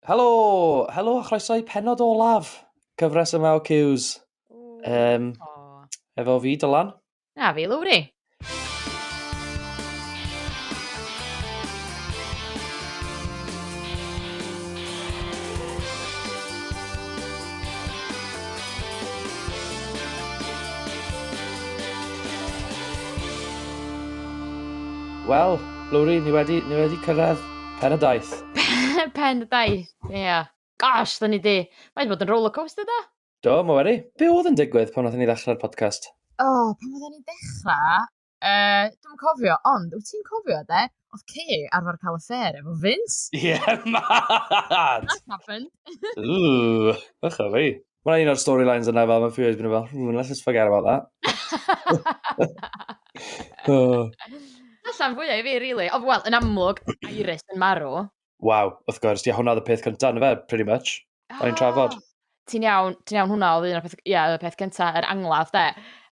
Helo! Helo a chroeso i penod olaf cyfres yma o Cews. Um, oh. Efo fi, Dylan. Na fi, Lowri. Wel, Lowri, ni wedi, ni wedi cyrraedd Pen y daith. Pen y daith, ie. Yeah. Gosh, da ni di. Mae'n bod yn rollercoaster da. Do, mae wedi. Be oedd yn digwydd pan oedden ni ddechrau'r podcast? O, oh, pan oedden ni'n dechrau, uh, dwi'n cofio, ond wyt ti'n cofio, de? Oedd Kay arfer cael y ffer efo Vince. Ie, yeah, mad! That happened. Ooh, ych o fi. Mae'n un o'r storylines yna fel, mae fi wedi bod fel, hmm, let's just forget about that. oh. Allan fwyaf i fi, really. O, wel, yn amlwg, Iris yn marw. Waw, wrth gwrs, ia, hwnna oedd y peth cyntaf, na fe, pretty much. Oh. O'n i'n trafod. Ah, ti'n iawn, ti'n iawn hwnna oedd un o'r peth, ia, y peth cyntaf, yr angladd, de.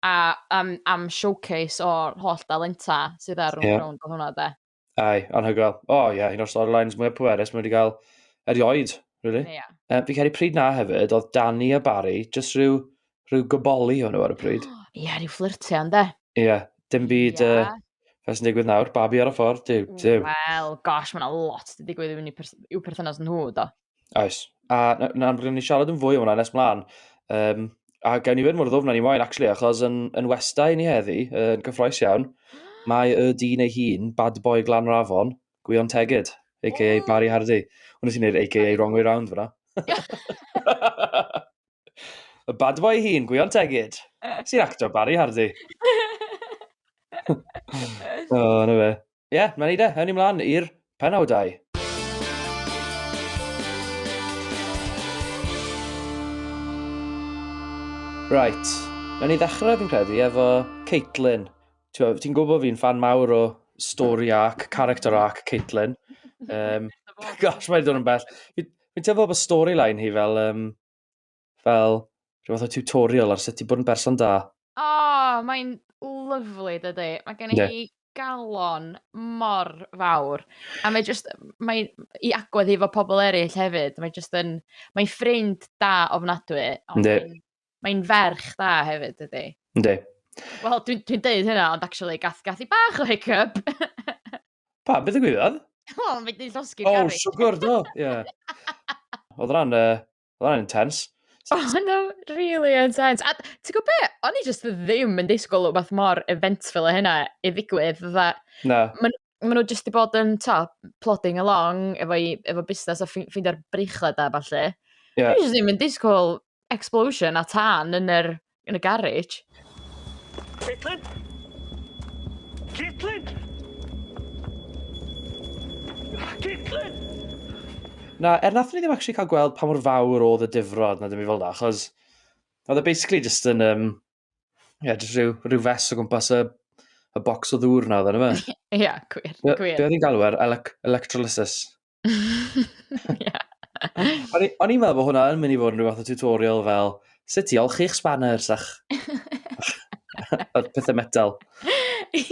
A am, am showcase o'r holl dalenta sydd ar rhwng yeah. rhwng hwnna, de. Ai, anhygoel. O oh, ie, yeah, un o'r storylines mwyaf pwerus mae wedi cael erioed, really. Yeah. Um, fi cael ei pryd na hefyd, oedd Danny a Barry, jyst rhyw, rhyw goboli o'n nhw ar y pryd. Ie, yeah, rhyw fflirtio, ynddo? Ie, yeah, dim byd... Yeah. Uh, Fe sy'n digwydd nawr, babi ar y ffordd, dyw, dyw. Wel, gosh, mae'n lot wedi digwydd i'w perthynas nhw, do. Oes. A na, na, rydyn ni siarad yn fwy o hwnna nes mlaen. Um, a gawn ni fod mor ddwfn ni moyn, actually, achos yn, yn westau ni heddi, yn gyffroes iawn, mae y dyn ei hun, bad boy glan rafon, Gwion Tegid, a.k.a. Oh. Barry Hardy. Wnes i wneud a.k.a. wrong way round fyna. y bad boy hun, Gwion Tegid, sy'n actor Barry Hardy. o, oh, na fe. ie, yeah, mae'n neud e. Ewn ni mlaen i'r penawdau. Right. Newn ni ddechrau fi'n credu efo Caitlin. Ti'n gwybod bod fi'n fan mawr o story arc, character arc Caitlin. Um, gosh, mae'n dod yn bell. Fi'n teimlo bod storyline hi fel um, fel rhyw fath o tutorial ar sut i bod yn berson da. O, oh, mae'n lyflu, dydy. Mae gen i yeah. galon mor fawr. A mae just, mae i agwedd i fo pobl eraill hefyd. Mae just yn, mae'n ffrind da ofnadwy. Mae'n mae ferch da hefyd, dydy. Ynddi. Wel, dwi'n dwi, dweud hynna, ond actually, gath, gath i bach o hiccup. pa, beth y gwybod? O, mae di llosgi oh, garrig. O, siwgr, do, ie. Yeah. Oedd ran, uh, Oedd hwnna'n intense. Oh, no, really intense. A ti'n gwybod be? O'n i just ddim yn disgwyl o beth mor eventful o hynna i ddigwydd. Dda, no. Maen ma nhw just i bod yn to, plodding along efo, i, efo busnes a ffeindio'r breichlau da falle. Yeah. O'n i just ddim yn disgwyl explosion a tan yn yr yn y garej. Caitlin! Caitlin! Caitlin! Na, er nath ni ddim actually cael gweld pa mor fawr oedd y difrod na ddim i fel na, achos oedd e basically just yn, um, yeah, just rhyw, rhyw fes o gwmpas y, y bocs o ddŵr na oedd e, na fe? Ie, yeah, gwir, gwir. Be oedd hi'n galw ar elec electrolysis? yeah. O'n i'n meddwl bod hwnna yn mynd i fod yn rhywbeth o tutorial fel sut i olchi'ch spanners a'ch pethau metal.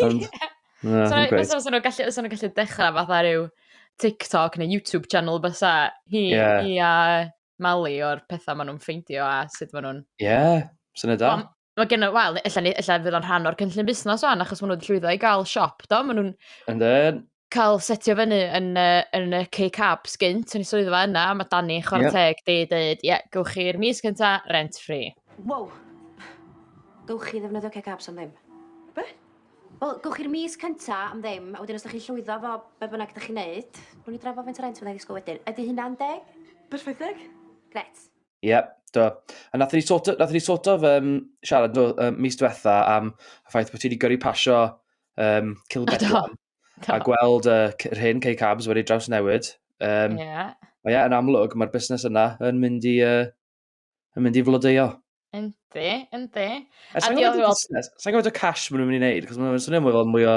Ond, yeah. so, okay. so, nhw'n gallu, so gallu dechrau fath ar yw TikTok neu YouTube channel bysa hi, yeah. hi a Mali o'r pethau maen nhw'n ffeindio a sut maen nhw'n... Ie, yeah, syniad da. Mae gen i, wel, ella, ni- ella fydd o'n rhan o'r cynllun busnes o'n, achos maen nhw wedi llwyddo i gael siop, do? Maen nhw'n And then, cael setio fyny yn, uh, yn y K-Cab sgynt yn y swyddfa yna, mae Dani chwarae Yep. teg di dweud, ie, yeah, gywch chi'r mis cynta rent free. Wow. Gywch chi ddefnyddio cecabs am ddim. Be? Wel, gywch chi'r mis cynta am ddim, a wedyn os da chi'n llwyddo fo be bynnag da chi'n neud, rwy'n ni drafod faint o rent fyddai ddisgwyl wedyn. Ydy hynna'n deg? Perffaith deg. Gret. Ie, yeah, do. A nath ni sort of, nath ni sort of um, siarad no, um, mis diwetha am y ffaith bod ti wedi gyrru pasio um, Cilbedwan a gweld uh, yr hyn cei cabs wedi draws newid. Um, yeah. Ie, yeah, yn amlwg, mae'r busnes yna yn mynd i, uh, yn mynd i flodeio. Yndi, yndi. E, sa'n gwybod y cash maen nhw'n mynd i wneud, cos maen nhw'n swnio mwy fel mwy o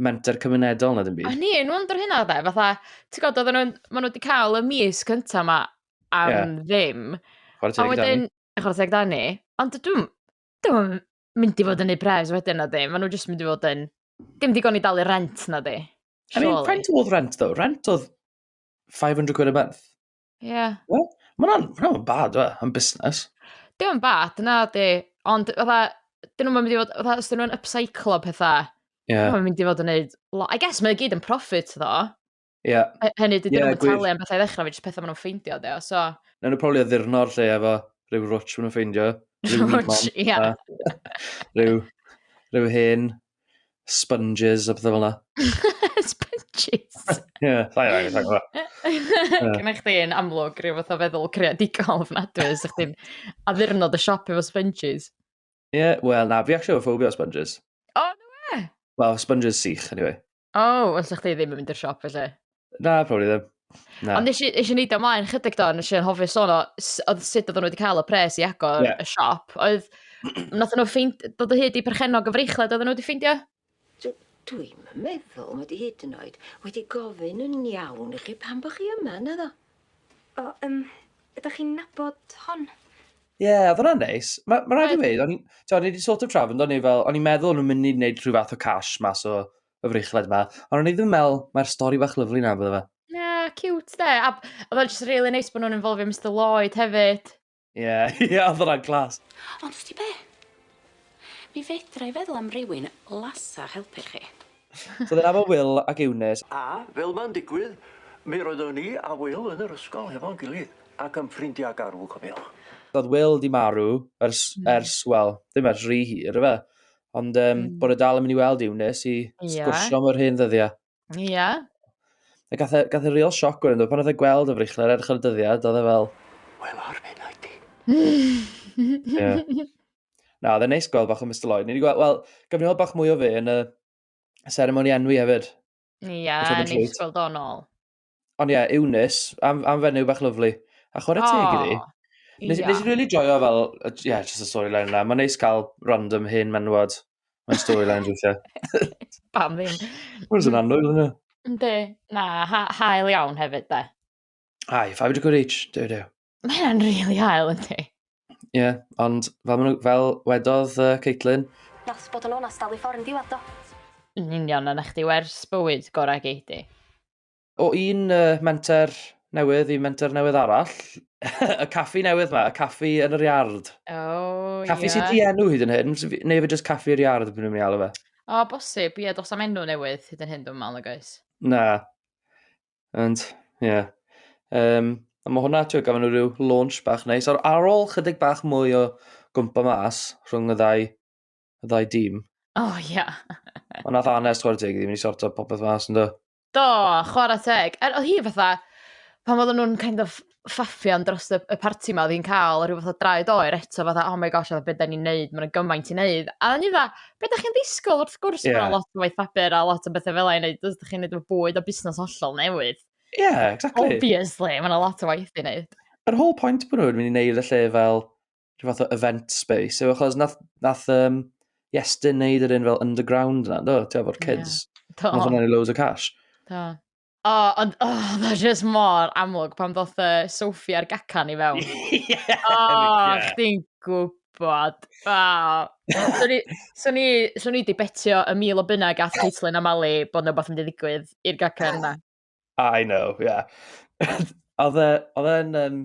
menter cymunedol na ddim byd. A ni, nhw'n dod hynna dde, fatha, ti'n gwybod, oedden nhw'n, maen nhw wedi cael y mis cyntaf yma, am yeah. ddim. Chwarae teg Dani. Chwarae teg Dani. Ond dwi'n... Dwi'n mynd i fod yn ei pres wedyn na ddim. Maen nhw jyst mynd i fod yn... Dim digon i dalu rent na di. I mean, faint oedd rent ddo? Rent oedd 500 quid a month. Ie. Yeah. Well, Mae'n ma bad, fe, yn busnes. Dim yn bad, na di. Ond, fatha, dyn nhw'n mynd i fod, fatha, os dyn nhw'n upcyclo pethau, yeah. mae'n mynd i fod yn neud... I guess mae'n gyd yn profit, ddo. Ie. Hy- Hynny, dydyn Ie, nhw'n gwir. talu am bethau i ddechrau, fe jyst pethau maen nhw'n ffeindio, de, o, so... Nawn nhw probably addurno'r lle efo rhyw rwtsh maen nhw'n ffeindio. Rhyw weed Rwtsh, man, ie. a Rhyw, rhyw hen sponges a pethau fel yna. Sponges. Ie, sa'i rhaid, sa'i gwybod. Gynna chdi yn amlwg rhyw fath o feddwl creadigol ofnadwy, os ydych chdi'n addurno dy siop efo sponges. Ie, yeah, wel na, fi actually efo phobia o sponges. O, oh, no e? Wel, sponges sych, anyway. O, oh, ond sa'ch chi ddim yn mynd i'r siop, felly? Na, probably ddim. Na. Ond eisiau eisiau neud ymlaen chydig do, nes i'n hofio sôn o oedd sut oedden nhw wedi cael y pres i agor yeah. y siop. Oedd, nath nhw ffeind, dod o hyd i perchennog y freichled oedden nhw wedi ffeindio? D- dwi'm yn meddwl mod i hyd yn oed wedi gofyn yn iawn i chi pam bo chi yma, naddo? O, yym, ydych chi'n nabod hon? Ie, yeah, oedd hwnna'n neis. Mae ma rhaid i mi, o'n i wedi sort of trafod, o'n i fel, o'n i'n meddwl o'n nhw'n mynd i wneud rhyw fath o cash mas o y frechled yma, ond o'n i ddim yn meddwl, mae'r stori bach lyflu na, bydde fe. Na, cute de. A oedd o'n just really neis bod nhw'n involve Mr Lloyd hefyd. Ie, ie, oedd hwnna'n clas. Ond ti be? Mi fedra i feddwl am rywun lasach helpu chi. So dyna fo Will ac Eunice. A, fel mae'n digwydd, mi roeddwn i a Will yn yr ysgol hefo'n gilydd, ac yn ffrindiau garw, cofiwch. So oedd Will di marw ers, ers, wel, ddim ers rhy hir, ife? Ond um, bod e dal yn mynd i weld Eunice i sgwrsio am yr hen ddyddiau. Ie. Yeah. A gath e, gath e real sioc wedyn, pan oedd e gweld y freichler edrych ar y dyddiad, oedd e fel... Wel, ar fe na i ti. Na, oedd e'n neis gweld bach o Mr Lloyd. Ni wedi gweld, wel, gyfnod bach mwy o fe yn y ceremony enwi hefyd. Ie, yeah, neis gweld o'n ôl. Ond ie, yeah, Eunice, am, am fenyw bach lyflu. A chwarae oh, teg iddi. Nes, yeah. nes i really joio fel, ie, yeah, just y storyline yna. Mae'n neis cael random hyn menwod. Mae'n storyline rwythio. Pam ddim? Mae'n sy'n anwyl yna. Ynddi, na, ha hael iawn hefyd, de. Ai, 5 degree reach, dew dew. Mae hynna'n rili really hael, yndi? Ie, yeah, ond fel, fel wedodd uh, Caitlin... Nos bod yn onast dal i ffordd yn diwedd do. Yn union, a na chdi wers bywyd gorau geidi. O un uh, menter newydd i menter newydd arall, y caffi newydd ma, y caffi yn yr iard. Oh, caffi yeah. sydd di enw hyd yn hyn, neu fe jyst caffi yr iard, byd yn mynd i alw fe. O, bosib, ie, dos am enw newydd hyd yn hyn dwi'n meddwl, nag oes? Na. Ond, ie. Yeah. Um, a mae hwnna, ti'n gofyn nhw rhyw launch bach neis. Ar, ar ôl chydig bach mwy o gwmpa mas rhwng y ddau, y ddau dîm. O, oh, ie. Yeah. Ond nath Anes, chwarae teg, ddim wedi sorto popeth mas yn do. Do, chwarae teg. Er, oedd hi fatha, pan oedden nhw'n kind of ffaffian dros y y parti 'ma o'dd 'i'n ca'l a rhyw fath o draed oer eto fatha oh my gosh a be' 'dan ni'n neud ma' 'na gymaint i neud a o'n i fatha be' 'dach chi'n ddisgwl wrth gwrs... Ie. ...ma' 'na lot o waith papur a lot o bethe fel 'a i neud os 'dach chi'n neud efo bwyd a busnas hollol newydd. Ie exactly. Obviously ma' 'na lot o waith i neud. Yr whole point bo' nhw'n mynd i neud y lle fel rhyw fath o event space yw achos nath nath um, Iestyn neud yr un fel underground 'na do? T'o' fo'r kids. Ie. Do. Nath hwnna neud loads o cash. Do. O, ond, o, oh, mae jyst mor amlwg pan ddoth uh, Sophie a'r gacan i fewn. yeah, o, oh, yeah. chdi'n gwybod. Oh. so ni, so ni, so ni di betio y mil o bunna gath Caitlin a Mali bod nhw beth yn ddigwydd i'r gacan yna. I know, yeah. Oedd e'n, um,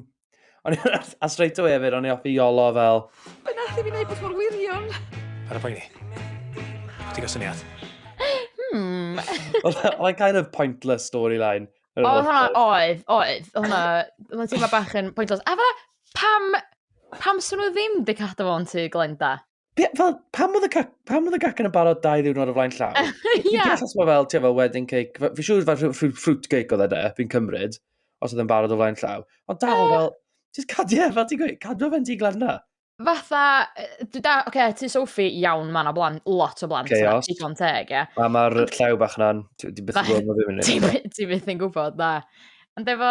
O'n i- a straight away hefyd, o'n i offi iolo fel... Mae'n allu fi wneud beth mor wirion. Ar y poeni. Ti gael syniad? Hmm. Like kind of pointless storyline. O, hwnna, oedd, oedd. Hwnna, hwnna ti'n ma bach yn pointless. A fe, pam, pam swn nhw ddim di cadw fo'n tu Glenda? Be, fel, pam oedd y, cac, pam oedd y gacen yn barod dau ddiwrnod o flaen llaw? Ie. yeah. Dwi'n fel, fel, ti'n fel wedding cake. Fi'n siŵr fel fruit cake oedd e, fi'n cymryd, os oedd yn barod o flaen llaw. Ond dal fel, just cadw e, fel ti'n gweud, cadw fe'n di glanna. Fatha, dwi da, oce, okay, ti Sophie, iawn, mae yna blant, lot o blant. Chaos. Digon teg, ie. A mae'r llaw bach na'n, ti'n byth yn gwybod, mae fi'n mynd. Ti'n byth yn gwybod, na. Ond efo,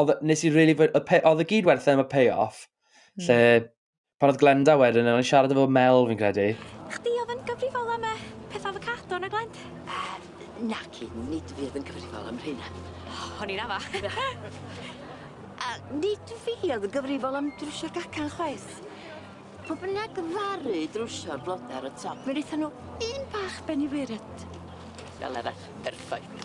oedd, nes i really, oedd y gyd werth e am y pay-off, mm. lle pan oedd Glenda wedyn, o'n i'n siarad efo Mel fi'n credu. Chdi oedd yn gyfrifol am y peth avocado na Glend? Na, cyd, nid fi oedd yn gyfrifol am rhywun. Oh, o'n i'n afa. A nid fi oedd yn gyfrifol am drwsio'r gacan chwaith. Pw bynnag yn ddaru drwsio'r blode ar y top mi nethon nw un bach ben i wyrdd. Fel arall, perffaith.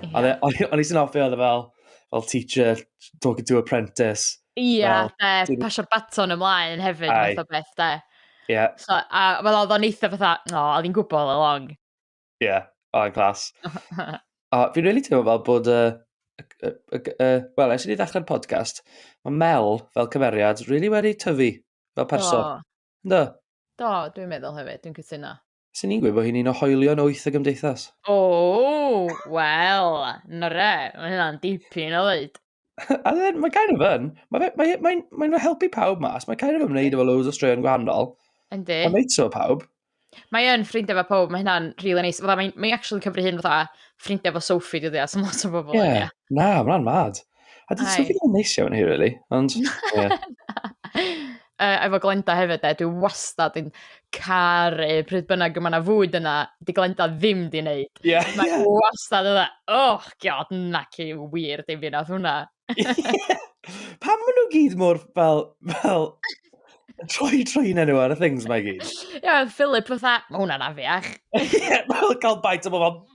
Ie. O'n i o'n i sy'n offi oedd e fel fel teacher talking to apprentice. Ie, de, pasio'r baton ymlaen hefyd fath o beth de. Ie. So, a fel oedd o'n eitha fatha, o, oedd hi'n gwybod all along. Ie, yeah. o, yn glas. o, fi'n really teimlo fel bod y... Uh, uh, uh, Wel, eisiau ni ddechrau'r podcast, mae Mel fel cymeriad really wedi tyfu fel person. Do. Do, Do dwi'n meddwl hefyd, dwi'n cytuno. Sy'n ni'n gwybod hi'n un o hoelion wyth y gymdeithas. O, oh, wel, na re, mae hynna'n dipyn o ddweud. A then, mae kind of yn. Mae'n fe- mae, mae, mae nhw helpu pawb mas. Mae kind of yn wneud efo loads o straeon gwahanol. Yndi. Mae'n neud so pawb. Mae yn ffrindiau fo pob, mae hynna'n rili really neis. Fydda, mae'n mae actually cyfri hyn fatha ffrindiau fo Sophie dyddi as yn lot o bobl. Ie. Yeah. Na, mae'n mad. A dyn Ai. Sophie ddim yn neis iawn hi, really. Ond, ie. uh, efo Glenda hefyd e, dwi wastad yn caru pryd bynnag yma na fwyd yna, di Glenda ddim di wneud. Yeah. Mae yeah. wastad yna, oh god, na ci wir dim fi nath hwnna. Pam maen nhw gyd mor fel, fel, troi troi yn nhw ar y things mae gyd. Ie, yeah, Philip fatha, mae hwnna'n afiach. Ie, fel cael bait o bobl,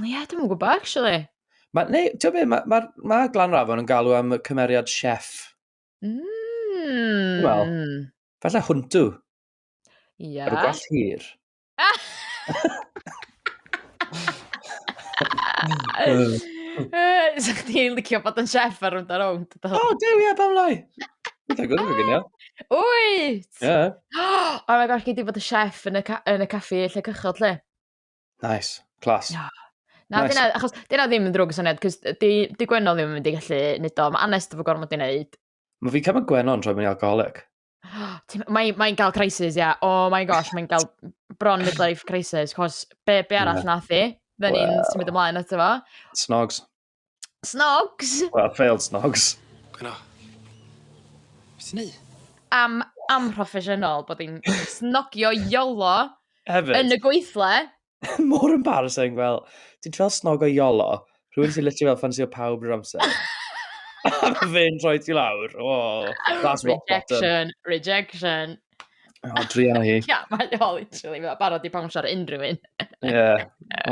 Ie, yeah, dwi'n gwybod, actually. Ma, neu, ti'n gwybod, mae ma, ma, ma Glan Rafon yn galw am cymeriad chef. Mm. Wel, falle hwntw. Ie. Yeah. Ar y gwell hir. Sa chdi'n licio bod yn chef ar rwnd ar rownd? O, oh, dew, ie, pam lai. Dwi'n gwybod yn gynio. Wyt! Ie. Oh my gosh, gei di bod y chef yn y, ca yn y caffi lle cychod, lle? Nice, class. Yeah. Na, nice. dyna, achos dyna ddim yn ddrwg syniad, cos di, di Gwenno ddim yn mynd i gallu nid o. Mae Anest efo gormod i wneud. Mae fi cymryd Gwenno yn troi mewn i alcoholic. Mae'n mae gael crisis, ia. Yeah. Oh my gosh, mae'n gael bron midlife crisis, cos be, be arall yeah. nath i? Fe ni'n well. symud ymlaen eto fo. Snogs. Snogs. Well, failed snogs. Gwna. Beth ti'n neud? Am, am proffesiynol bod hi'n snogio iolo Hefyd. yn y gweithle. More embarrassing, fel, ti'n troi snog o iolo, rhywun sy'n literally fel ffansio pawb drwy'r amser. A mae fe'n troi ti lawr. Oh, that's rock bottom. Rejection, rejection. O, druan o hi. Ia, mae o literally, mae o barod i bawnsio ar unrhyw un. Ie.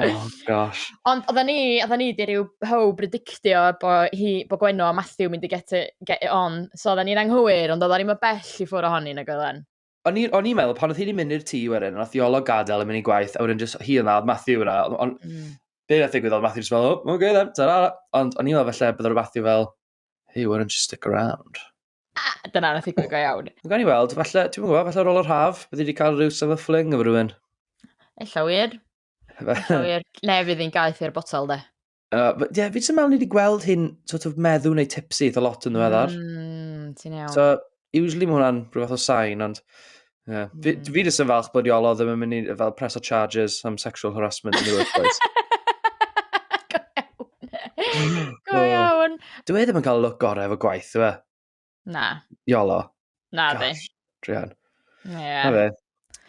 Oh, gosh. Ond oedden ni, oedden ni di rhyw how predictio bo, hi, bo Gwenno a Matthew mynd i get it, get it on. So oedden ni'n anghywir, ond oedden ni'n mynd bell i ffwrdd ohoni nag oedden. O'n i- o'n i'n meddwl, pan oedd hi'n mynd i'r tŷ wedyn, nath i olog gadael yn mynd i gwaith, a wedyn jyst hi yna, oedd Matthew yna, ond on, Mm. be nath ddigwydd oedd Matthew jyst fel, o, oce then, ta-ra. Ond o'n i'n meddwl falle bydde'r Matthew fel, Hey, why don't you stick around? Ah, dyna na ffigwyd go iawn. Gawn ni weld, falle, ti'n gwybod, falle ar ôl yr haf, byddi wedi cael rhyw summer fling efo rhywun. Ella wir. Ella wir. Ne, fydd hi'n gaeth i'r botol, de. Uh, but, yeah, fi jyst yn meddwl ni wedi gweld hyn sort of meddw neu tipsy eitha lot yn ddiweddar. Mm, ti'n iawn. So, usually mae hwnna'n rhywbeth o sain, ond yeah. mm. fi, fi jyst yn falch bod Iolo ddim yn mynd i fel press o charges am sexual harassment yn y workplace. Go iawn. Dwi e ddim yn cael look gorau efo gwaith, dwi e? Na. Iolo. Na, di. Drian. Yeah. Na fe.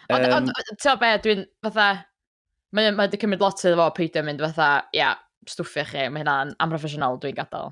Ond, um, ti'n be, dwi'n fatha... Mae wedi cymryd lot iddo fo peidio mynd fatha, ia, yeah, stwffio chi, mae hynna'n amproffesiynol, dwi'n gadael.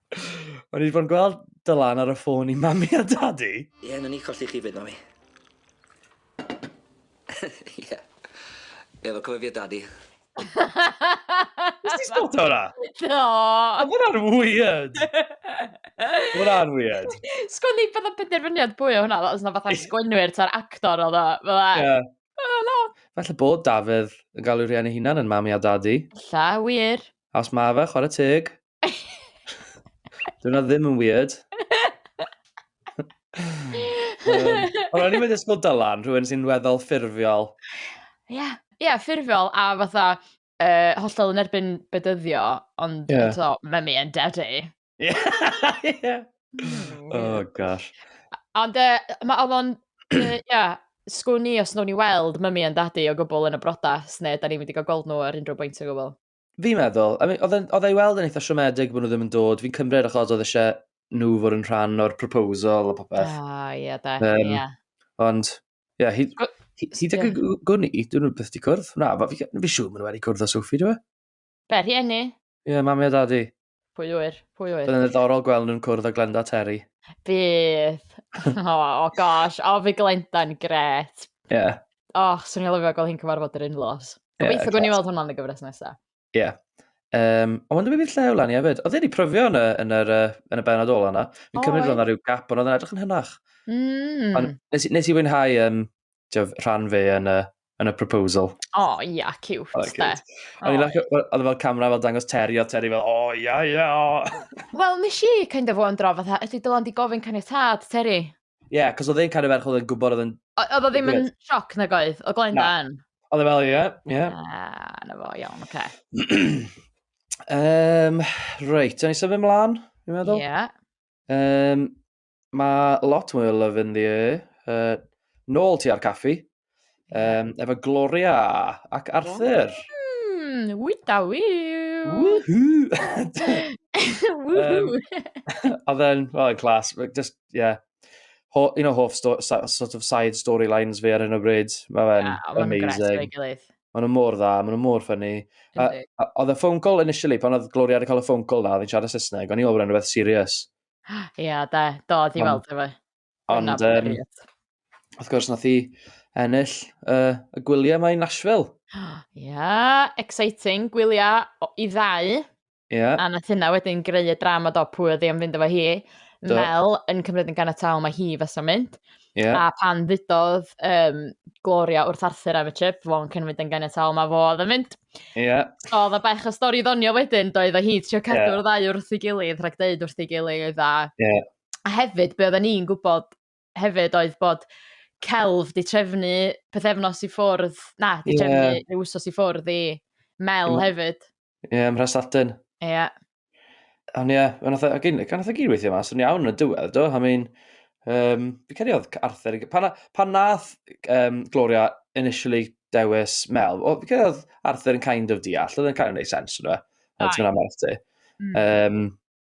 O'n i wedi bod yn gweld Dylan ar y ffôn i mami a dadi. Ie, yeah, ni colli chi fyd, mami. Ie. yeah. Ie, yeah, cofio fi a dadi. Nes ti spot o'na? Do. A hwnna'n weird. Hwnna'n weird. Sgwn ni bydd o'n penderfyniad bwy o hwnna, os yna fatha sgwynwyr ta'r actor oedd o. Fydda. Felly bod Dafydd yn galw rhian ei hunan yn mami a dadi. Lla, wir. Os mae fe, chwarae teg. Dwi'n ddim yn weird. Ond o'n i'n mynd ysgol Dylan, rhywun sy'n weddol ffurfiol. Ie, yeah. yeah, ffurfiol a fatha uh, hollol yn erbyn bedyddio, ond yeah. eto, mae mi yn daddy. Ie. yeah. Hmm, oh, gosh. Ond uh, mae oedd o'n, uh, yeah, sgwn i os nhw'n i weld mymi yn dadu o gwbl yn y brodas, neu da ni'n mynd i gael gweld nhw ar unrhyw bwynt o gwbl. Fi'n meddwl, I mean, oedd e i weld yn eitha siomedig bod nhw ddim yn dod, fi'n cymryd achos oedd eisiau nhw fod yn rhan o'r proposal a popeth. Ah, ie, da, um, ie. Ond, ie, yeah, hyd, hyd ag y gwn i, dyn nhw beth di cwrdd. Na, fi, fi siw maen nhw wedi cwrdd o Sophie, dwi? Be, rhieni? Ie, yeah, mami a dadi. Pwy wyr? Pwy wyr? Bydd yn ddiddorol gweld nhw'n cwrdd â Glenda Terry. Bydd. o, oh, gosh. O, oh, fi Glenda'n gret. Ie. Yeah. O, oh, swn i'n lyfio gweld hi'n cyfarfod yr unlos. Gobeithio yeah, gwni weld hwnna'n y gyfres nesaf. Ie. Yeah. Um, ond wna'n dweud llew lan i hefyd. Oedd wedi pryfio yn y, yn y, yn y benod ola yna. Fi'n oh, cymryd roedd yna rhyw gap, ond oedd yn edrych yn hynach. Mm. Ond nes, nes i fwynhau um, tiof, rhan fe yn y, yn y proposal. O, oh, ia, yeah, cute, oh, de. O'n i'n lacw, oedd e fel camera fel dangos Terry, o Terry fel, o, oh, ia, yeah, ia, yeah, o. Oh. Wel, nes i kind of wondro, fatha, ydy Dylan di gofyn caniatad, Terry? Ie, yeah, cos oedd e'n cario ferch oedd e'n gwybod oedd yn... Oedd o ddim yn sioc na goedd, o Glenda yn? Oedd e fel, ie, ie. Ah, na fo, iawn, oce. um, reit, o'n i symud ymlaen, i'n meddwl? Ie. Yeah. Um, Mae lot mwy o love in the air. Uh, nôl ti ar caffi. Um, efo Gloria ac Arthur. Mm, wyda wyw. Woohoo! Woohoo! um, a then, well, in class, just, yeah. Ho, un o hoff sto, sort of side storylines fi ar hyn o bryd. Mae fe'n yeah, amazing. Mae'n mor dda, mae'n mor ffynnu. Oedd y ffôn call initially, pan oedd Gloria wedi cael y ffôn call na, oedd hi'n siarad Saesneg, o'n i'n meddwl bod rhywbeth serious. Ia, da. Do, di Ond- weld efo. Ond, um, wrth gwrs, nath i ennill uh, y gwyliau mae Nashville. Ia, exciting. Gwyliau i ddau. Ia. A nath hynna wedyn greu y drama do pwy oedd i am fynd efo hi. Mel yn cymryd yn ganiataol mae hi fes o'n mynd. Yeah. A pan ddudodd um, Gloria wrth Arthur am y trip, fo yn cynfyd yn ganiataol, mae fo oedd yn mynd. Yeah. So, oedd y bach o stori ddonio wedyn, doedd o hi trio cadw'r yeah. ddau wrth ei gilydd, rhaid dweud wrth ei gilydd. A, yeah. a hefyd, be oedden ni'n gwybod hefyd oedd bod celf di trefnu pethefnos i ffwrdd, na, di trefnu yeah. rhyw wsos i ffwrdd i Mel mm. hefyd. Ie, yeah, ymhres Latin. Ie. Yeah. Ond ie, yeah, gan oedd y gyd weithio mas, o'n iawn yn y diwedd, do? I mean, um, fi credu oedd Arthur, pan, pan nath um, Gloria initially dewis Mel, o, fi credu oedd Arthur yn kind of deall, oedd yn kind of neud sens, yna. Ti'n mynd am Arthur. Um,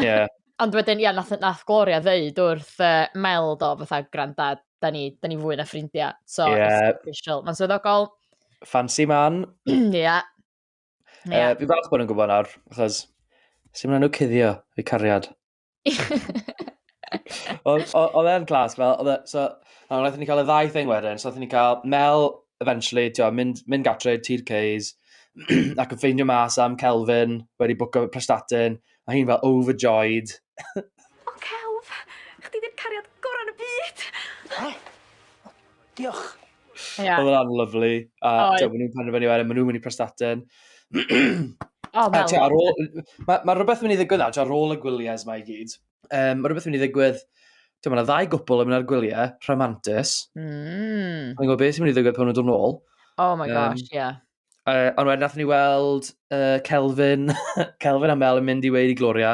Yeah. Ond wedyn, ia, nath, nath Gloria ddeud wrth uh, Mel do, fatha, granda, da ni, da ni fwy na ffrindiau. So, yeah. it's official. Mae'n swyddogol. Fancy man. Ia. yeah. yeah. uh, fi falch bod yn gwybod nawr, achos sy'n mynd nhw cuddio fi cariad. Oedd e'n glas, fel, oedd e, so, a wnaethon ni cael y ddau thing wedyn, so wnaethon ni cael Mel, eventually, tio, mynd, mynd gatre, tir Ceys, ac yn ffeindio mas am Kelvin, wedi bwco prestatin, Mae hi'n fel overjoyed. O celf! Chdi di'r cariad gorau yn y byd! O! O, diolch. Ie. Oedd hwnna'n lyflu. A Oedd. ti'n gwbod, maen nhw'n penderfynu wedyn, maen nhw'n mynd i Prestatyn. O, A fel... ti'n gwbod, ar ôl... Mae ma rhywbeth yn mynd i ddigwydd nawr, ti'n gwbod, ar ôl y gwyliau yma i gyd. Um, mae rhywbeth yn mynd i ddigwydd... Ti'n gwbod, mae ddau gwpl yn mynd ar gwyliau, rhamantus. Mm. Mae'n gwybod beth sy'n mynd i ddigwydd pan nhw'n dod nôl. Oh my Um, gosh, ie. Uh, ond wedyn nath ni weld uh, Kelvin, Kelvin a Mel yn mynd i weid i Gloria.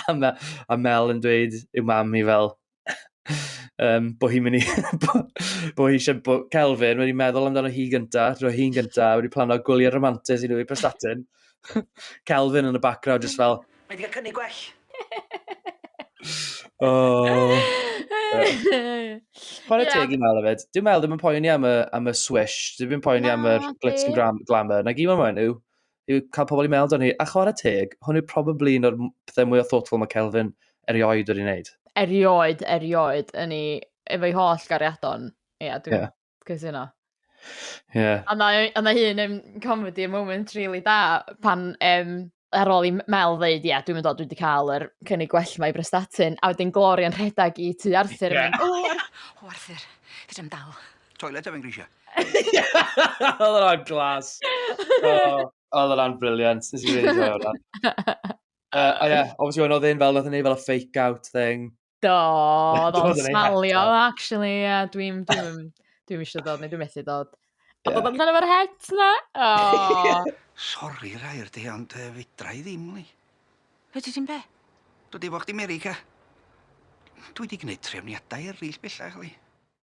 a, Mel, a Mel yn dweud i'w mam i fel, um, bo hi'n mynd i... bo, bo hi eisiau... Bo, Kelvin wedi meddwl amdano hi gynta, dro hi'n gynta, wedi plano gwyliau romantis i nhw i Prestatyn. Kelvin yn y background, just fel, Mae wedi cael cynnig gwell. o. Chwarae yeah. teg i Mel hefyd. Dwi'n meddwl ddim yn poeni am y, am y swish. Dwi'n poeni no, am y glitz and gram, glamour. Na gyd mae'n yw, yw cael pobl i meddwl o'n hi. A chwarae teg, hwn yw probably un o'r pethau mwy o thoughtful mae Kelvin erioed wedi wneud. Erioed, erioed, yn ei, efo'i holl gariadon. Ie, yeah, dwi'n yeah. Cytuno. Ie. A ma' e a ma' un yn comedy moment rili da pan yym ar ôl i M- Mel ddeud ia dwi'm yn dod dwi 'di ca'l yr cynnig gwell 'ma i Brestatyn a wedyn Gloria'n rhedag i tŷ Arthur a mynd o Ar-... O Arthur fedrai'm dal. Toilet a fi'n grisio. Odd wnna'n glas. O odd wnna'n brilliant. Nes i rili joio wnna. Yy a ie obviously wedyn odd e'n fel nath e neud fel y fake out thing. Do, oedd o'n smalio, actually, ie, yeah, dwi'n dwi, dwi eisiau dod, neu dwi'n methu dod. A yeah. bod amdano fo'r het na? Oh. Sorry, Rhair, di, ond uh, fedra i ddim, li. Fe ti ti'n be? Dwi di fo chdi America. Dwi di gwneud trefniadau eraill bellach, li.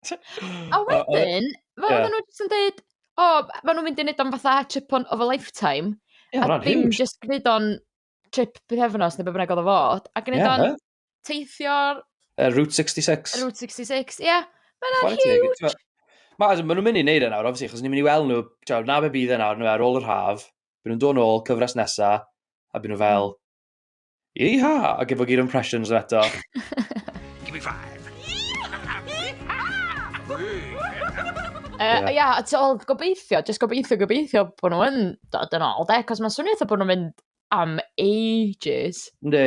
A wedyn, fe oedden nhw jyst yn dweud, o, oh, fe nhw'n mynd i wneud o'n fatha chip on of a lifetime. Yeah, a ddim jyst gwneud o'n trip bythefnos neu beth bynnag oedd o fod, a gwneud yeah, o'n teithio'r... Uh, Route 66. Route 66, ie. Yeah. Mae'n huge! Mae ma nhw'n mynd i wneud e nawr, obviously, chos ni'n mynd i weld nhw, tra, na be bydd e nawr, nhw ar ôl yr haf, byd nhw'n dod ôl, cyfres nesa, a byd nhw fel, hmm. Iha! A gyfo gyd impressions nhw eto. Give me five. Ia, yeah. a ti'n ôl gobeithio, jyst gobeithio, gobeithio bod nhw'n dod yn ôl, de, cos mae'n swnio eitha bod nhw'n mynd am ages. Ne.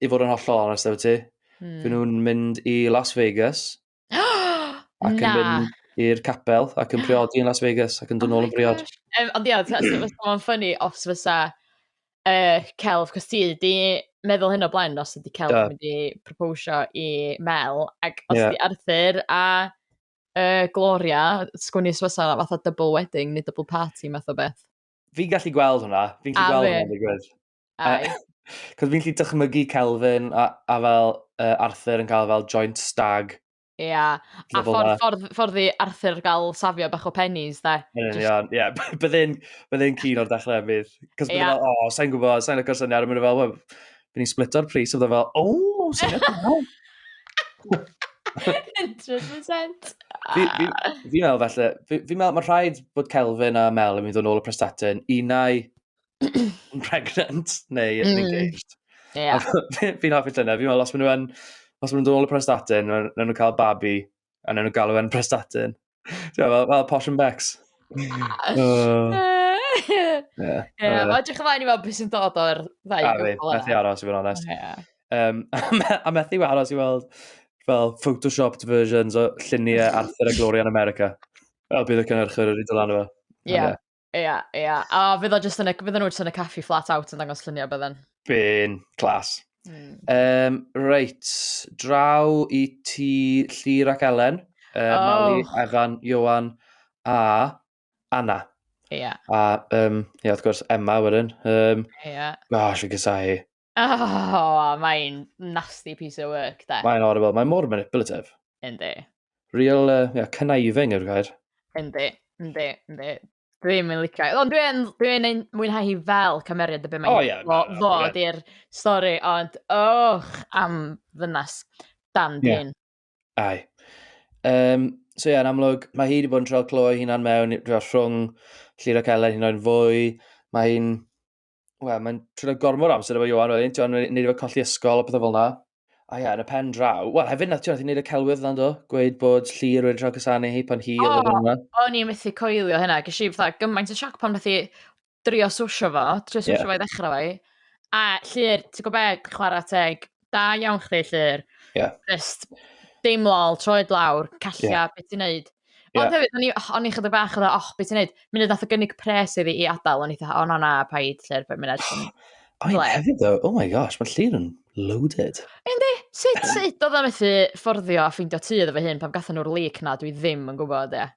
i fod yn hollol onest efo ti, mm. fy nhw'n mynd i Las Vegas. ac yn mynd i'r capel ac yn priodi yn Las Vegas ac yn dod oh nôl yn briod. Um, ond ia, mae'n ffynnu os fysa uh, celf, cos ti di meddwl hyn o blaen os ydi celf yeah. mynd i proposio i Mel, ac os yeah. di Arthur a uh, Gloria, sgwni os fysa fath o double wedding neu double party math o beth. Fi'n gallu gweld hwnna, fi'n gallu gweld hwnna, fi'n gweld. Ai. Cos fi'n lli dychmygu Kelvin a, a fel uh, Arthur yn cael fel joint stag. Ia, yeah. a ffordd, ffordd, ffordd i Arthur gael safio bach o pennies, da. Yn union, ie. Byddai'n bydde cyn o'r dechrau fydd. Cos byddai'n fel, o, sa'n gwybod, sa'n lygo'r syniad, a mynd fel, wel, bydd ni'n splito'r pris, a byddai'n fel, o, syniad da. 100%. Fi, fi, fi meddwl felly, fi, fi meddwl mae rhaid bod Kelvin a Mel yn mynd yn ôl y prestatyn, unau pregnant neu yn mm. engaged. Yeah. Fi'n hoffi dyna, fi'n meddwl, os maen nhw'n os maen nhw dod o prestatin, maen nhw'n cael babi, a maen nhw'n galw e'n prestatin. Ti'n fel, fel posh and bex. uh, yeah. yeah. Mae edrych ymlaen i fel beth sy'n dod o'r ddau gwbl yna. A methu aros i fod yn onest. Yeah. Um, a methu aros i weld fel photoshopped versions o lluniau Arthur a Gloria yn America. Fel bydd y cynhyrchwyr wedi dod lan efo. Ie. Ia, ia. A fydd o just yn y, fydden nhw jyst yn y caffi flat out yn dangos lluniau bydden. Byn, clas. Mm. Um, reit, draw i ti Llyr ac Elen, uh, oh. Mali, Evan, Johan a Anna. Ia. Yeah. A, um, ia, wrth gwrs, Emma wedyn. Um, ia. Yeah. Gosh, fi'n gysau hi. Oh, mae'n nasty piece of work, da. Mae'n horrible. Mae'n mor manipulative. Yndi. Real, uh, yeah, conniving yw'r gair. Yndi, yndi, yndi. Dwi'n mynd licio. Ond dwi'n dwi ein mwynhau hi fel cymeriad y beth mae'n oh, yeah, fo, fo di'r stori, ond och, am ddynas dan dyn. Yeah. Ai. Um, so ie, yeah, yn amlwg, mae hi wedi bod yn trol clo ei hunan mewn rhwng Llyr ac Elen hi'n oed fwy. Mae hi'n Wel, mae'n trwy'n gormod o amser efo Johan wedyn, ti'n gwbod, neud efo colli ysgol a pethe fel 'na. A ie, yn y pen draw. Wel, hefyd nath ti'n neud y celwydd yna do? Gweud bod Llyr wedi rhoi cysanu hi pan hi oedd yn yma. O, o'n i'n methu coelio hynna. Ges i fatha gymaint o sioc pan nath i drio swsio fo, trio swsio yeah. fo i ddechrau fo i. A Llyr, ti'n gwybod be, chwarae teg, Da iawn chdi, Llyr. Yeah. Just dim lol, troed lawr, calla, yeah. beth ti'n neud? Yeah. Ond hefyd, o'n i, o'n i chydig bach oedd, oh, beth ti'n neud? Munud nath o gynnig pres iddi i adael, o'n i dda, oh, no, na, paid, Llyr, fe munud. Oh, yeah, hefyd, though, oh my gosh, mae Llyr yn loaded. Yndi, sut, sut oedd o'n methu fforddio a ffeindio tu oedd efo hyn pan gathen nhw'r leak na, dwi ddim yn gwybod, ie. Yeah.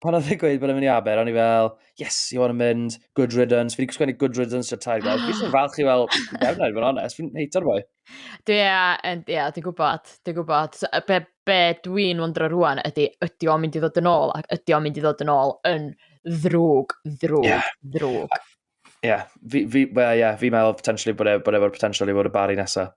pan oedd e'n gweud bod e'n mynd i Aber, o'n i fel, yes, you want to mynd, good riddance. Fi wedi gwsgwennu good riddance to tair gweld. Fi eisiau falch i fel, gefn i fod yn onest, fi'n heito'r boi. Dwi, ia, dwi'n gwybod, dwi'n gwybod. So, be, be dwi'n wondro rwan ydy, ydy o'n mynd i ddod yn ôl, ac ydy o'n mynd i ddod yn ôl yn ddrwg, ddrwg, yeah. ddrwg. Ie, yeah. fi, fi, well, yeah, fi meddwl potentially bod e, bod efo'r potential i fod y bari nesaf.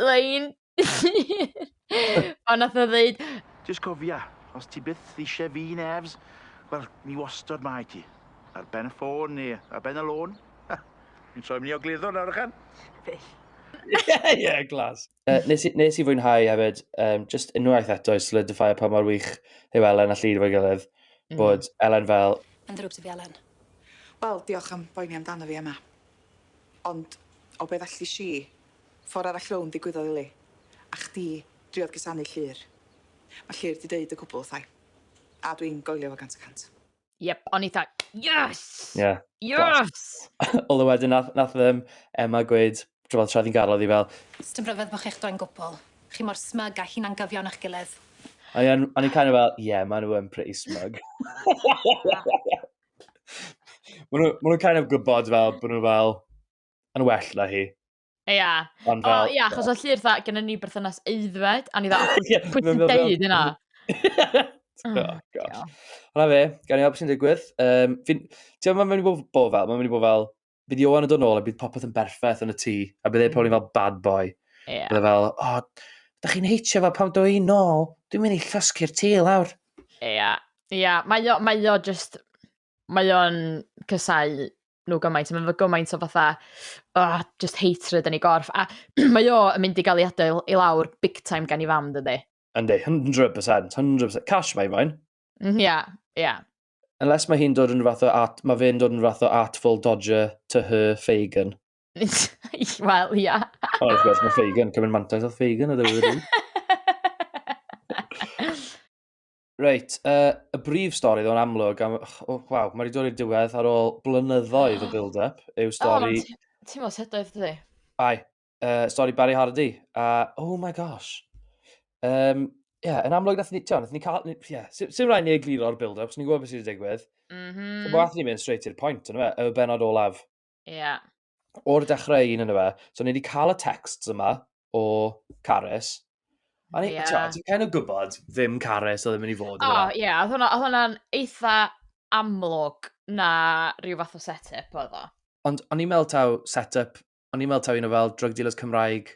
lein pan nath o ddeud... Jyst cofia, os ti byth eisiau fi, Nefs, wel, mi wastod mae ti. Ar ben y ffôn neu ar ben y lôn. Ni'n troi mynd i ogleddol nawr, ychan? Fel. Ie, ie, glas. Uh, nes, i, nes i fwynhau hefyd, um, just unwaith eto i solidify pa mor wych yw Elen a Llyd fo'i gilydd, mm. bod mm. Elen fel... Yn ddrwg ti fi, Elen. Wel, diolch am boeni amdano fi, Emma. Ond, o beth allu si, Ffor arall rownd ddigwyddodd i Lee. A chdi driodd cusanu Llŷr. Mae Llŷr 'di deud y cwbl wrtha i. A dwi'n goelio fo gant y cant. Yep, o'n i tha, yes! Ie. Yes! Although wedyn nath nath yym Emma gweud t'mod tra o'dd 'i'n gadl o'dd 'i fel... Sdim rhyfedd bo' chi'ch doi'n gwbl. Chi mor smug a hunan-gyfiawn â'ch gilydd. O'n i yn o'n i kinda fel ie ma' nhw yn pretty smug. Ma' nhw ma' nhw'n kind of gwbod fel bo' nhw fel yn well na hi. Ia. Ond fel... O, ia, achos o llir dda, gen ni berthynas eiddfed, a ni dda, pwy ti'n deud yna? Oh, oh gosh. Hwna fe, gan i weld beth sy'n digwydd. Um, ti'n meddwl, mae'n mynd i bod fel, mae'n mynd i bod fel, bydd Johan yn dod nôl a bydd popeth yn berffaith yn y tŷ, a bydd ei probably mm. fel bad boy. Yeah. Bydd e fel, o, oh, da chi'n heitio fel pam dwi i nôl, dwi'n mynd i llosgu'r tŷ lawr. Ia, ia, mae o, mae o just, mae o'n cysau nhw gymaint, mae'n fy gymaint o fatha, oh, just hatred yn ei gorff, a mae o yn mynd i gael ei adael i lawr big time gan i fam, dydy. Yndi, 100%, 100%. Cash mae fo'n. Mm, ia, ia. Unless mae hi'n dod yn fath o at, mae fe'n dod yn fath o artful dodger to her Fagan. Wel, ia. Ond wrth gwrs, mae Fagan, cymryd mantais oedd Fagan, ydw i wedi. Reit, uh, y brif stori ddo'n amlwg, am, oh, waw, mae wedi dod i'r diwedd ar ôl blynyddoedd o build-up, yw stori... Oh, ti'n mos hydoedd, dydy? Ai, uh, stori Barry Hardy, a, uh, oh my gosh. Um, yeah, yn amlwg, nath ni, ti'n nath ni cael, yeah, sy'n sy rhaid ni egluro'r build-up, os ni'n gwybod beth sydd wedi digwydd. Mm -hmm. So, nath ni mynd straight i'r pwynt, yn y benod olaf. Ie. Yeah. O'r dechrau un yn y fe. So, ni wedi cael y texts yma o Carys. A ni, yeah. ti'n cael o gwybod ddim Carys o ddim yn ei fod. O, oh, ie. Yeah. Oedd hwnna'n eitha amlwg na rhyw fath o set-up oedd o. Ond o'n i'n meddwl taw set-up, o'n i'n meddwl taw un o fel drug dealers Cymraeg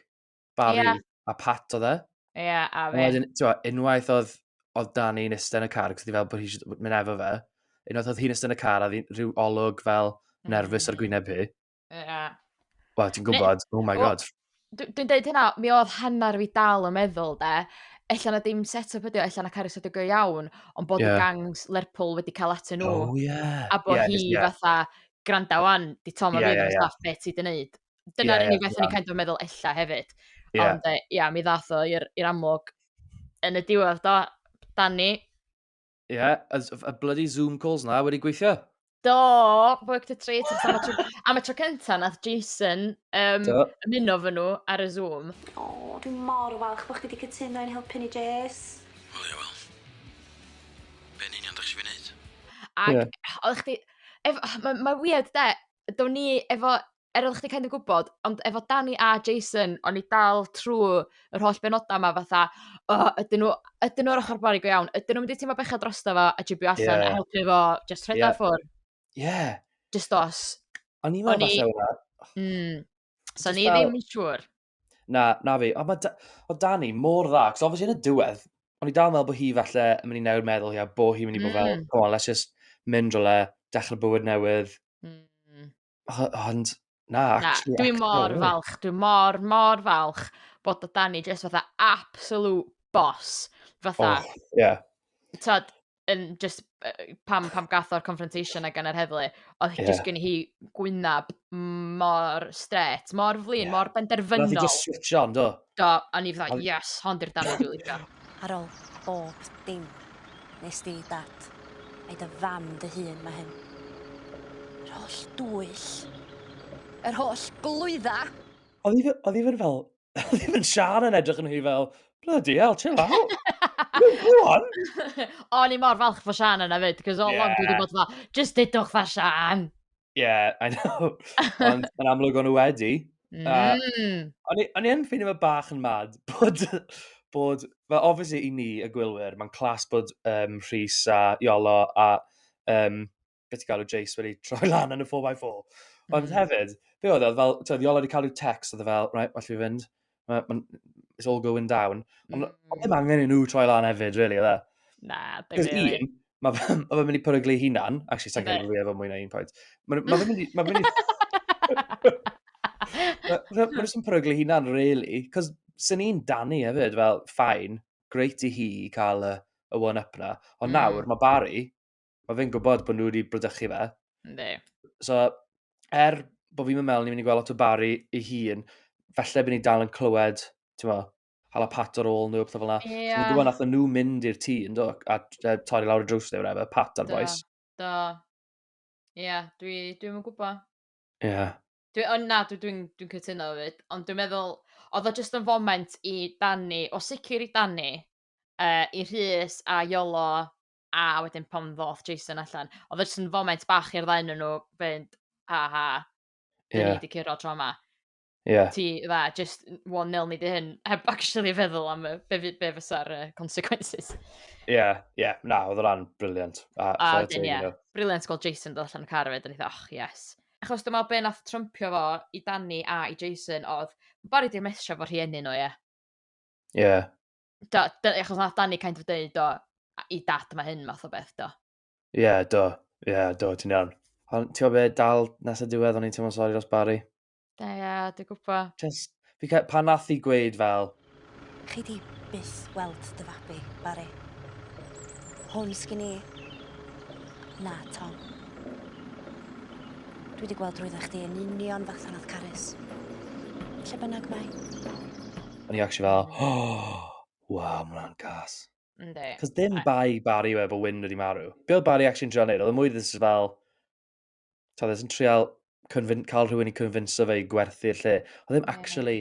Barry yeah. a Pat oedd e. Ie, yeah, a fe. Wedyn, ti'n unwaith oedd, oedd Dani yn ystod yn y car, cos di fel bod hi'n mynd efo fe, unwaith oedd hi'n ystod yn y car, a oedd rhyw olwg fel mm. nerfus mm. ar gwyneb hi. Ie. Yeah. Wel, ti'n gwybod, oh my god. Dwi'n dweud hynna, mi oedd hanner fi dal yn meddwl, de, allan na dim set-up ydi o, allan na Carys ydi go iawn, ond bod yeah. y gangs Lerpwl wedi cael atyn nhw. Oh, yeah. A bod yeah, hi yeah. fatha, granda wan, di Tom a yeah, fi, yeah, yeah. beth ti di wneud. Dyna'r yeah, unig beth yeah. o'n i'n kind of meddwl ella hefyd. Yeah. Ond, ia, yeah, mi ddath o i'r amlwg yn y diwedd do, Danny. Ie, yeah, y bloody Zoom calls na wedi gweithio. Do, work to trade. am, y tro, am y tro cynta, nath Jason um, ymuno fy nhw ar y Zoom. O, oh, dwi'n mor falch bod chi wedi cytuno i'n helpu ni, Jess. Wel, ie, wel. Be'n union ddech chi fi wneud? Ac, yeah. oedd chdi... Mae'n ma weird, de, do'n ni efo er oddach chdi kind of gwbod ond efo Dani a Jason o'n i dal trw yr holl benoda' 'ma fatha o ydyn nw ydyn nw ar ochor Bari go iawn? Ydyn nw'n mynd i teimlo bechod drosto fo a jybio allan... Ie. ...a helpu fo jyst rhoi o ffwr'? Ie. Jyst dos. O'n i me'wl falla o 'na. Hmm. So o'n i ddim yn siŵr. Na, na fi. Ond mae o Dani mor dda, cos obviously yn y diwedd, o'n i dal yn meddwl bod hi falle yn mynd i newid meddwl hi a bod hi'n mynd i bod fel, mm. come on, let's just mynd rhywle, dechrau bywyd newydd. Mm. Ond, na, na Dwi'n mor falch, dwi'n mor, mor falch bod o Dani jyst fatha absolute boss. Fatha, oh, yeah. Tod, yn just, pam, pam gath o'r confrontation a gan yr heddlu, oedd yeah. just gen hi gwynab mor stret, mor flin, yeah. mor benderfynol. Nath i just switch on, do? Do, a ni fydda, yes, hond i'r dan dwi'n licio. Ar ôl bob dim, nes di, dad, a'i dy fam dy hun mae hyn. Yr holl dwyll, yr holl glwydda. Oedd i fod fel, ddim yn siar yn edrych yn hi fel, bloody hell, chill out. Go on! O'n i mor falch fo Sian yna fyd, cos all yeah. along dwi wedi bod fel, just dydwch fa Sian! Yeah, I know. Ond yn amlwg o'n nhw wedi. Mm. Uh, o'n i yn ffeindio fe bach yn mad bod, bod fe obviously i ni, y gwylwyr, mae'n clas bod um, Rhys a Iolo a um, beth i galw Jace wedi troi lan yn y 4x4. Ond mm. hefyd, be oedd e, fel, ti'n Iola wedi cael ei text, oedd e fel, right, well fi fynd, ma, ma, it's all going down. Ond mm. oedd ddim angen i nhw troi lan hefyd, really, oedd e? Na, ddim really. Un, mae fe ma mynd i peryglu hunan, actually, sa'n cael ei fwy efo mwy na un pwynt. Mae fe mynd i... Mae fe mynd i... Mae fe jyst yn peryglu hunan, really, cos sy'n un Danny hefyd, fel, ffain, greit i hi cael y, y one-up na. Ond mm. nawr, mae Barry, mae fe'n gwybod bod nhw wedi brydychu fe. Ynddi. So, er bod fi'n meddwl ni'n mynd i gweld lot o Barry ei hun, felly bydd ni dal yn clywed, ti'n mo, hala pat ar ôl nhw, pethau fel yna. Ie. Yeah. Dwi'n gwybod nath nhw mynd i'r tŷ, ynddo, a uh, torri lawr y drws neu whatever, pat ar boes. Do, do. Ie, yeah, dwi'n dwi, yn gwybod. Ie. Yeah. Dwi, ond na, dwi'n dwi, dwi cytuno fyd. Ond dwi'n meddwl, oedd o jyst yn foment i Danny, o sicr i Danny, uh, i Rhys a Iolo a wedyn pan ddoth Jason allan, oedd e jyst yn foment bach i'r ddau nhw fynd, ha ha, dyn yeah. ni wedi curo tro yma. Yeah. Ti, dda, just one nil ni di hyn, heb actually feddwl am y, be, be fysa'r uh, consequences. Ie, yeah, ie, yeah. na, oedd rhan briliant. A, a dyn, ie, yeah. briliant gweld Jason dod allan y car efo, dyn ni och, yes. Achos dyma be nath trwmpio fo i Danny a i Jason oedd, Barry di mesio fo rhieni nhw, ie. Yeah. Ie. Yeah. do, do, achos nath Danny kind of dweud, do, i dad mae hyn math o beth, do. Ie, yeah, do. Ie, yeah, do, ti'n iawn. Ond ti'n gwybod dal nes y diwedd o'n i'n teimlo sori dros Barry. Da, ie, yeah, dwi'n gwybod. Just, fi cael, pan nath i gweud fel... Chi di byth weld dy fabi, Barry. Hwn sgyn i. Na, Tom. Dwi wedi gweld drwydda chdi yn union fath anath Carys. Lle bynnag mae. O'n i actually fel, oh, waw, mae hwnna'n gas. Yndi. Cos dim bai Barry yw e bod Wyn wedi marw. Be oedd Barry actually'n trial neud? Oedd y e mwy ddys fel... Ta, ddys yn trial convin- cael rhywun i convinso fe i gwerthu'r lle. Oedd ddim actually...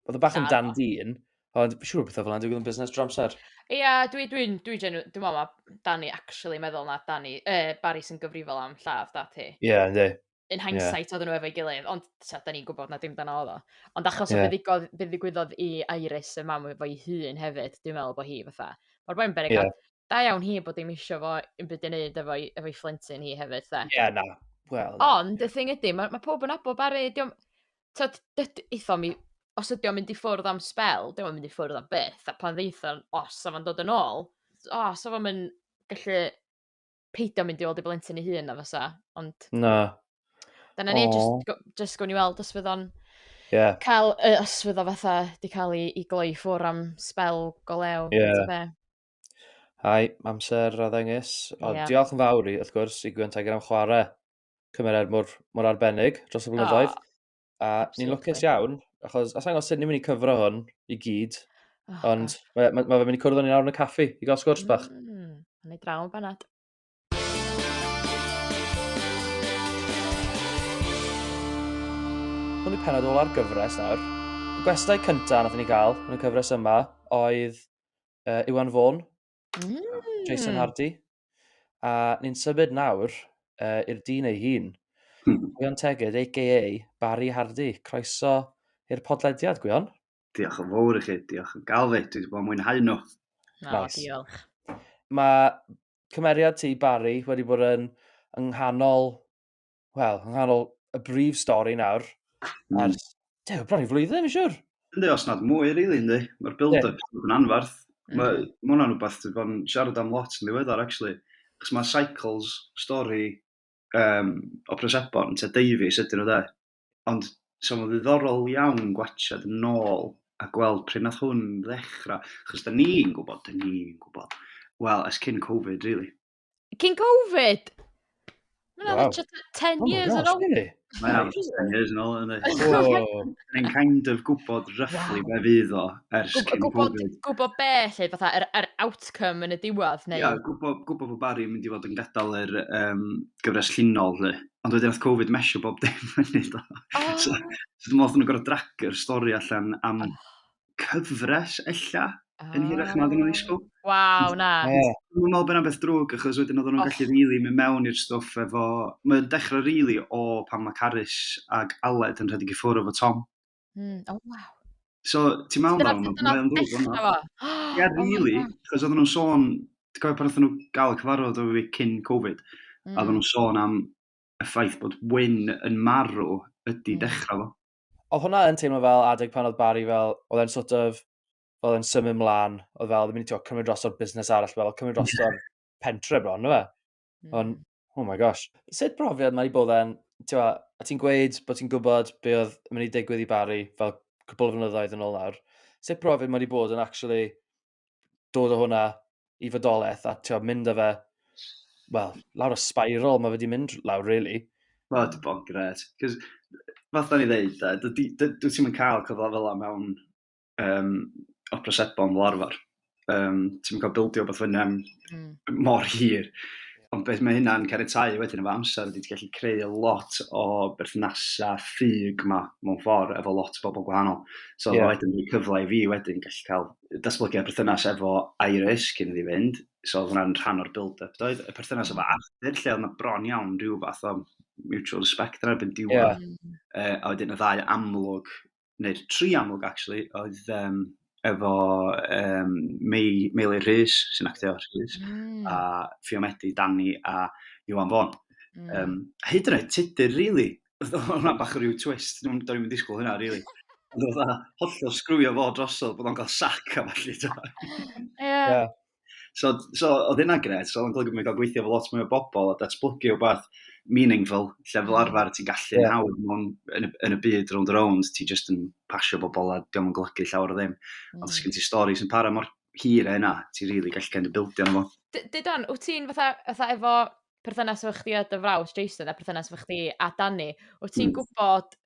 Oedd y e bach yn dan dyn, ond siŵr o bethau fel yna digwydd yn busnes dros amser. Ie, yeah, dwi'n dwi, dwi, dwi genu... Dwi'n meddwl mae Danny actually meddwl na Danny, uh, Barry sy'n gyfrifol am lladd dad hi. Ie, yeah, ynddi. yn hindsight yeah. oedden nhw efo'i gilydd, ond ta, da ni'n gwybod na dim dan oedd o. Ond achos yeah. o fe ddigwyddodd i Iris y mam efo'i hun hefyd, dwi'n meddwl bod hi fatha. Mae'r boi'n berig, yeah. da iawn hi bod dim eisiau fo yn byd yn neud efo'i efo fflentyn hi hefyd, da. Ie, yeah, na. Well, na. Ond, y thing ydy, mae ma pob yn abo bari, diolch... Tod, eitho mi, os ydy o'n mynd i ffwrdd am spel, diolch mynd i ffwrdd am beth, a pan ddeitho, os o'n dod yn ôl, os o'n mynd gallu peidio mynd i weld ei blentyn ei hun na fysa, ond... Na. Dyna ni, just, just gwn i weld os fydd o'n... Yeah. Cael, uh, os fydd o fatha, di cael ei, ei gloi ffwr am spel go lew. Yeah. Hai, amser a ddengys. Ond yeah. diolch yn fawr i, wrth gwrs, i Gwen Tiger am chwarae cymeriad mor, mor arbennig dros y blynyddoedd. Oh. A ni'n lwcus iawn, achos os angen sut ni'n mynd i cyfro hwn i gyd, oh, ond mae, mae, mae fe mynd i cwrdd o'n i'n awr yn y caffi i gael sgwrs bach. Mm, yn ei draw yn banad. Hwn i penod ola'r gyfres nawr. Y gwestai cyntaf nath ni gael yn y cyfres yma oedd uh, Iwan Fôn, Jason hmm. Hardy. A ni'n symud nawr uh, i'r dyn ei hun. Hmm. Gwion Teged, a.k.a. Barry Hardy. Croeso i'r podlediad, Gwion. Diolch yn fawr i chi, diolch yn galw. Dwi wedi bod yn mwynhau nhw. No, nice. diolch. Mae cymeriad ti, Barry, wedi bod yn yng nghanol wel, yng nghanol y brif stori nawr, mm. ar, de, bron i flwyddyn, yn siwr. Ynddi, os nad mwy, rili, really, ynddi. Mae'r build-up yeah. yn anfarth. Mm. Mae ma hwnna'n rhywbeth sydd bod yn siarad am lot yn ddiweddar, actually. Chos mae cycles stori um, o Presebon, te Davies ydyn nhw dde. Ond so mae'n ddiddorol iawn gwachod yn ôl a gweld pryd nath hwn ddechrau. Chos da ni'n gwybod, da ni'n gwybod. Wel, es cyn Covid, really. Cyn Covid! Mae'n wow. just 10 oh years yn ôl. Mae'n am 10 years yn ôl, ynddi. Mae'n kind of gwybod roughly wow. be fydd o ers cyn gwybod, Covid. Gwybod be, lle, fatha, yr, er, er outcome yn y diwedd, neu? Ia, gwybod, gwybod bod Barry yn mynd i fod yn gadael yr um, gyfres llunol, lle. Ond wedyn oedd Covid mesio bob dim yn ei do. Oh. so, so dwi'n meddwl nhw'n gorau dragio'r stori allan am oh. cyfres ella yn hirach na oedden nhw'n ddisgwyl. Waw, na. Yeah. Dwi'n meddwl bod yna beth drwg, achos wedyn oedden nhw'n gallu rili mynd mewn i'r stwff efo... Mae'n dechrau rili o pan mae Carys ag Aled yn rhedeg i ffwrdd efo Tom. Mm. Oh, wow. So, ti'n meddwl Dyna amdano fo, mae o'n ddrwg yma. Ie, oh rili, achos oedden nhw'n sôn, ti'n cofio pan oedden nhw gael y cyfarfod o fi cyn Covid, mm. a oedden nhw'n sôn am y ffaith bod Wyn yn marw ydy mm. dechrau fo. oedd hwnna yn teimlo fel adeg pan oedd Barry fel, oedd e'n sort of, oedd e'n symud mlaen, oedd fel, ddim yn tio cymryd dros o'r busnes arall, fel cymryd dros o'r pentre bron, no fe? Mm. Ond, oh my gosh. Sut profiad mae wedi bod e'n, ti'n a ti'n gweud bod ti'n gwybod be oedd yn mynd i digwydd i Barry fel cwbl o flynyddoedd yn ôl nawr. Sut profiad mae wedi bod yn actually dod o hwnna i fodolaeth a ti'n mynd â fe, wel, lawr y spiral mae wedi mynd lawr, really. Mae wedi bod yn gret. Cos, fath o'n i ddeud, e, dwi ti'n mynd cael cyfle fel yna mewn um, opresebon fel arfer. Um, ti'n mynd cael bildio beth fyny am mm. mor hir. Ond beth mae hynna'n caniatau wedyn efo amser ydy ti'n gallu creu lot o berthnasau ffug yma mewn ffordd efo lot o bobl gwahanol. So yeah. wedyn dwi'n cyfle i fi wedyn gallu cael datblygiad perthynas efo Iris cyn iddi fynd, so oedd hwnna'n rhan o'r build-up doedd, y perthynas efo mm. Arthur lle oedd yna bron iawn rhyw fath o mutual respect ar erbyn diwedd. Yeah. Mm. Uh, a wedyn y ddau amlwg, neu'r tri amlwg actually, oedd um, efo um, Mei, Meili Rhys sy'n actio Rhys, mm. a Fiomedi, Danny a Iwan Fon. Mm. Um, hyd yn oed tudur, really, Oedd hwnna bach o ryw twist, do'n i'n disgwyl hynna, rili. Ond oedd hwnna hollol sgrwio fo drosodd bod o'n cael sac a falle. Ie. So, so oedd hynna'n gred, so oedd o'n golygu bod gael gweithio efo lot mwy o bobl a datblygu o beth meaningful, lle fel arfer ti'n gallu yeah. nawr mewn, yn, y, yn y byd round around, ti just yn pasio bobl a diolch yn golygu llawer o ddim. Mm. Ond sgyn ti stori sy'n para mor hir e yna, ti'n rili really gallu cael ei bildio yna fo. Didon, wyt ti'n fatha, fatha efo perthynas efo chdi a dy frawd Jason a perthynas efo chdi a Dani, wyt ti'n hmm. gwybod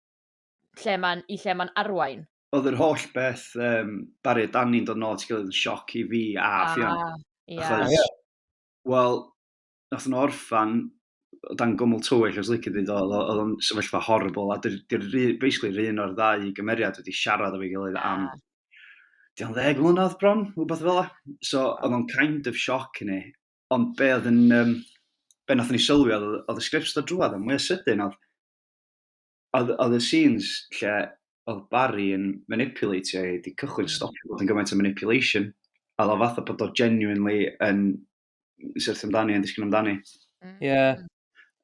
lle mae'n i lle mae'n arwain? Oedd yr holl beth um, Barry a Dani'n dod nôl at gilydd yn sioc i fi a ah, Ffion. Yeah. Achos, yeah. wel, nath nhw orffan o dan gwmwl tywyll os lycid iddo, oedd o'n sefyllfa horrible, a dy'r basically rhywun un o'r ddau gymeriad wedi siarad o'i gilydd am ah. diolch ddeg mlynedd bron, rhywbeth fel la. So, oedd o'n kind of sioc i ni, ond be oedd yn, um, be nath ni sylwi oedd, oedd y sgript dod drwad yn mwy o sydyn, oedd, oedd, oedd y scenes lle oedd Barry yn manipulatio ei, di cychwyn hmm. stopio bod yn gymaint o manipulation, a oedd o fath o bod o genuinely yn syrthio amdani, yn disgyn amdani. Hmm. Ie. Yeah.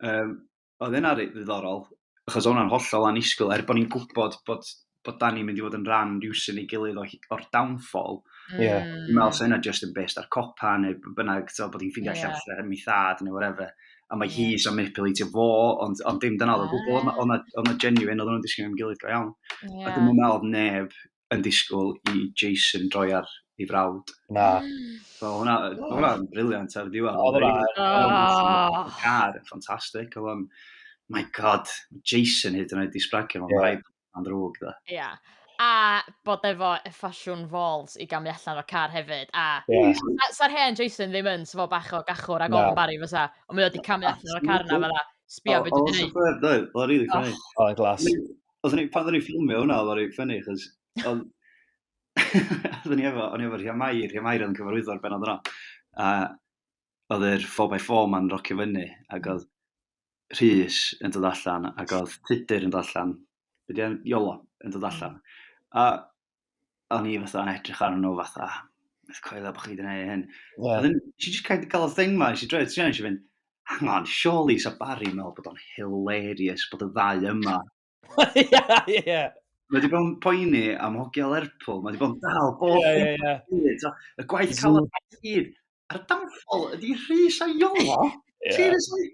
Um, oedd yna ddiddorol, achos oedd hwnna'n hollol anisgwyl, er bod ni'n gwybod bod, bod da ni'n mynd i fod yn rhan rhywsyn ei gilydd o'r downfall. Mm. Yeah. Dwi'n meddwl sy'n yna just yn best ar copa neu bynnag, so, bod hi'n ffeindio yeah. allan lle mi thad neu whatever. A mae yeah. hi sy'n manipulatio fo, ond, ond dim dyna oedd o gwbl, oedd yna genuine, oedd nhw'n disgyn am gilydd go iawn. Yeah. A dwi'n meddwl neb yn disgwyl i Jason droi ar ei frawd. Na. So hwnna, oh. hwnna'n briliant ar y diwedd. Oedd hwnna. Car, ffantastig. Oedd o'n, my god, Jason hyd yn oed i sbragio fo'n rhaid am ddrwg da. Ia. Yeah. A bod efo y ffasiwn falls i gamu allan o'r car hefyd. A yeah. sa'r sa hen Jason ddim yn sefo bach o gachwr ag o'n bari fysa. Ond mae wedi camu allan o'r car yna fel Sbio beth dwi'n gwneud. Oedd o'n rili ffynnu. Oedd o'n glas. Oedden ni, pan oedden ni'n ffilmio hwnna, oedden ni'n ffynnu, chos... Oedden ni efo, o'n i efo Rhia Mair, Rhia Mair oedd yn cyfarwyddo'r benod yna. A oedd yr 4x4 ma'n rocio fyny, ac oedd Rhys yn dod allan, ac oedd Tudur yn dod allan. Be di Iolo yn dod allan. A o'n i fatha yn edrych arnyn nhw fatha, beth coelio bod chi wedi gwneud hyn. Yeah. Oedden, she just kind of gael y thing ma, she droi, ti'n eisiau fynd, hang on, surely sa Barry meddwl bod o'n hilarious bod y ddau yma. yeah, yeah. Mae wedi bod yn poeni am hogia Lerpwl, mae wedi bod yn dal bob yeah, yeah, yeah. Hyd, y gwaith cael y gyd. A'r damfol ydy rhy saio. Seriously?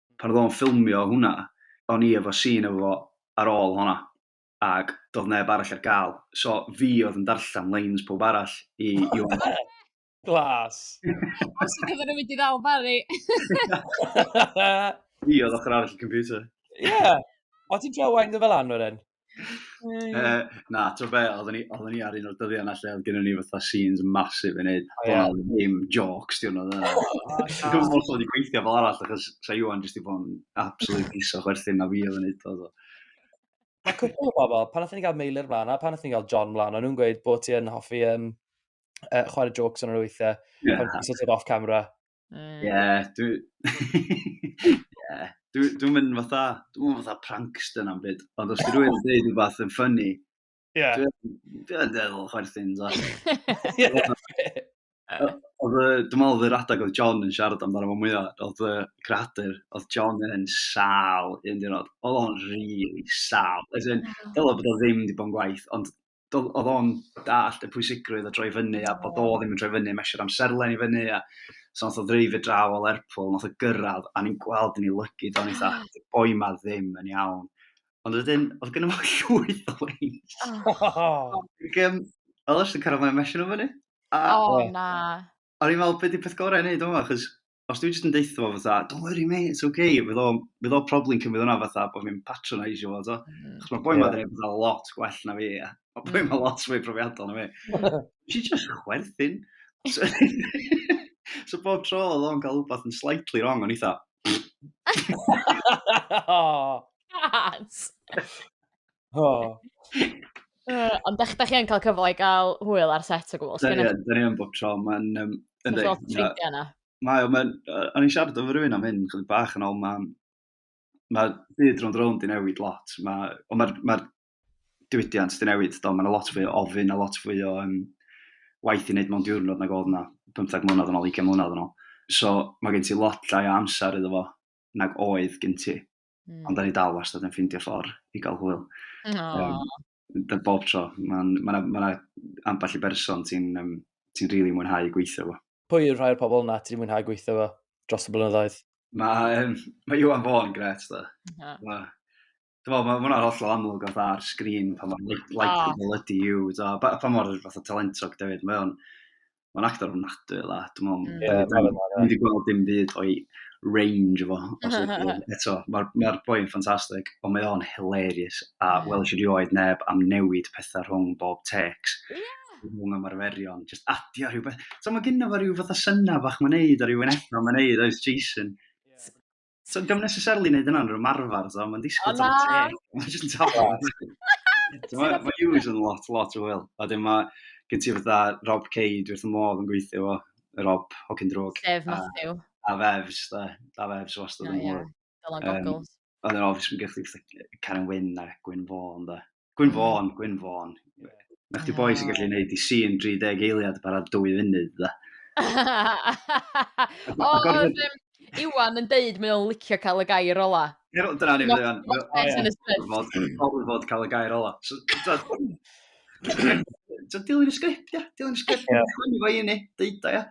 pan oedd o'n ffilmio hwnna, o'n i efo scene efo fo ar ôl honna, ac doedd neb arall ar gael, so fi oedd yn darllen lines pawb arall i Iwan. Glas! Os ti'n cyfer yn mynd i ddal Barry. Fi oedd ochr arall y computer. Ie! Yeah. O ti'n trio wain dy fel anwr yn? uh, na, ti'n be, oedden ni, oedden ni ar un o'r dyddiau yna lle oedd gennym ni fatha scenes massive i wneud. Oh, yeah. Ond ddim jokes, ti'n oedd yna. Dwi'n gwybod bod wedi gweithio fel arall, achos sa Iwan jyst i bod yn absolute piso chwerthin na fi oedd yn neud o. Mae cwpl o bobl, pan oedden ni gael Meilir mlaen, a pan oedden ni gael John mlaen, o'n nhw'n gweud bod ti yn hoffi um, uh, chwarae jokes yn yr weithiau, yeah. pan ti'n sort of off camera. Ie, yeah, dwi... yeah. Dwi'n dwi mynd fatha, dwi'n mynd fatha prankster na'n byd, ond os ti rwy'n yn dweud rhywbeth yn ffynnu, yeah. dwi'n dweud efo chwerthin. Oedd y, dwi'n meddwl oedd yr adeg oedd John yn siarad amdano fo mwyaf, oedd y creadur, oedd John yn sal un diwrnod. Oedd o'n rili sal. As in, dylo bod o ddim wedi bod yn gwaith, ond do'dd odd o'n dallt y pwysigrwydd o droi fyny a bod o ddim yn troi fyny mesured amserlen i fyny a so nath o ddreifio draw o Lerpwl nath o gyrradd a ni'n gweld yn ei lygid o'n eitha y boi ma ddim yn iawn. Ond wedyn oedd gynno fo llwyth o leins. Oh. Ac yym oedd o jyst yn cyrradd fyny a mesio nhw fyny. A, oh, na. O'n i'n meddwl be' 'di peth gorau i neud yma achos os dwi'n jyst yn deitha fo fatha, don't worry mate, it's okay, fydd o'n fydd o'n problem cymryd hwnna fatha bod fi'n patronisio fo, to. Mm. Chos mae boi yeah. ma'n fatha lot gwell na fi, a mae boi ma'n lot fwy profiadol na fi. She just chwerthin. So, so bob tro oedd o'n cael rhywbeth yn slightly wrong, o'n eitha. oh. God! Oh. Ond da chi yn cael cyfle i gael hwyl ar set o gwbl. Da ni yn, da ni yn bob tro. Mae'n... Um, Mae'n lot ffrindiau yna. Mae, mae'n... O'n i'n siarad efo rhywun am hyn, chydig bach yn ôl, mae'n... Mae byd rhwng rhwng di newid lot. Mae, ond mae'r ma diwydiant di newid, do. Mae'n lot fwy o ofyn, a lot fwy o um, waith i wneud mewn diwrnod nag oedd yna 15 mlynedd yn ôl, 20 mlynedd yn ôl. So, mae gen ti lot llai o amser iddo fo nag oedd gen ti. Mm. Ond da ni dal wastad yn ffindio ffordd i gael hwyl. Um, da bob tro. Mae'n ma na, ma na ambell i berson ti'n um, ti rili really mwynhau gweithio fo. Pwy yw'r rhai o'r pobl yna ti'n mwynhau gweithio fo dros y blynyddoedd? Mae um, ma Iwan Fawn gret, da. Yeah. Ma, Dwi'n meddwl, mae hwnna'n hollol amlwg o ar sgrin pan mor like, like oh. ydy yw, pa mor fath o talentog David, mae o'n Mae'n actor ofnadwy o dda. Dwi'n meddwl, mm. yeah, da ni wedi gweld dim byd o'i range efo. Eto, mae'r ma boi yn ffantastig, ond mae o'n hilarious. A mm. welys i rioed neb am newid pethau rhwng bob tecs. Yeah rhwng ymarferion, just adio rhyw beth. So mae gynnu fo rhyw fath o syna bach mae'n neud, a rhyw enethau mae'n neud, oes Jason. So, dwi'n necessarily wneud yna'n rhywun marfer, so, mae'n disgwyl tan y teg. Mae'n just yn tafod. Mae Hughes yn lot, lot o hwyl. A dyn mae gen ti fatha Rob Cade wrth y modd yn gweithio fo, Rob, hogyn drwg. Sef Matthew. A, a Fevs, da. Da Fevs wastad yn hwyl. Dylan Goggles. Um, a dyn obviously, mae'n gallu Karen Wynn a Gwyn Fawn, da. Gwyn Fawn, Gwyn Fawn. Na chdi boi sy'n gallu gwneud i sin 30 eiliad bara dwy funud, da. o, oedd um, Iwan yn deud mae o'n licio cael y gair ola. Dyna ni, Iwan. Gorfod cael y gair ola. So, dilyn y sgript, ia. Dilyn y sgript. Chwini fo i ni, deud o, ia.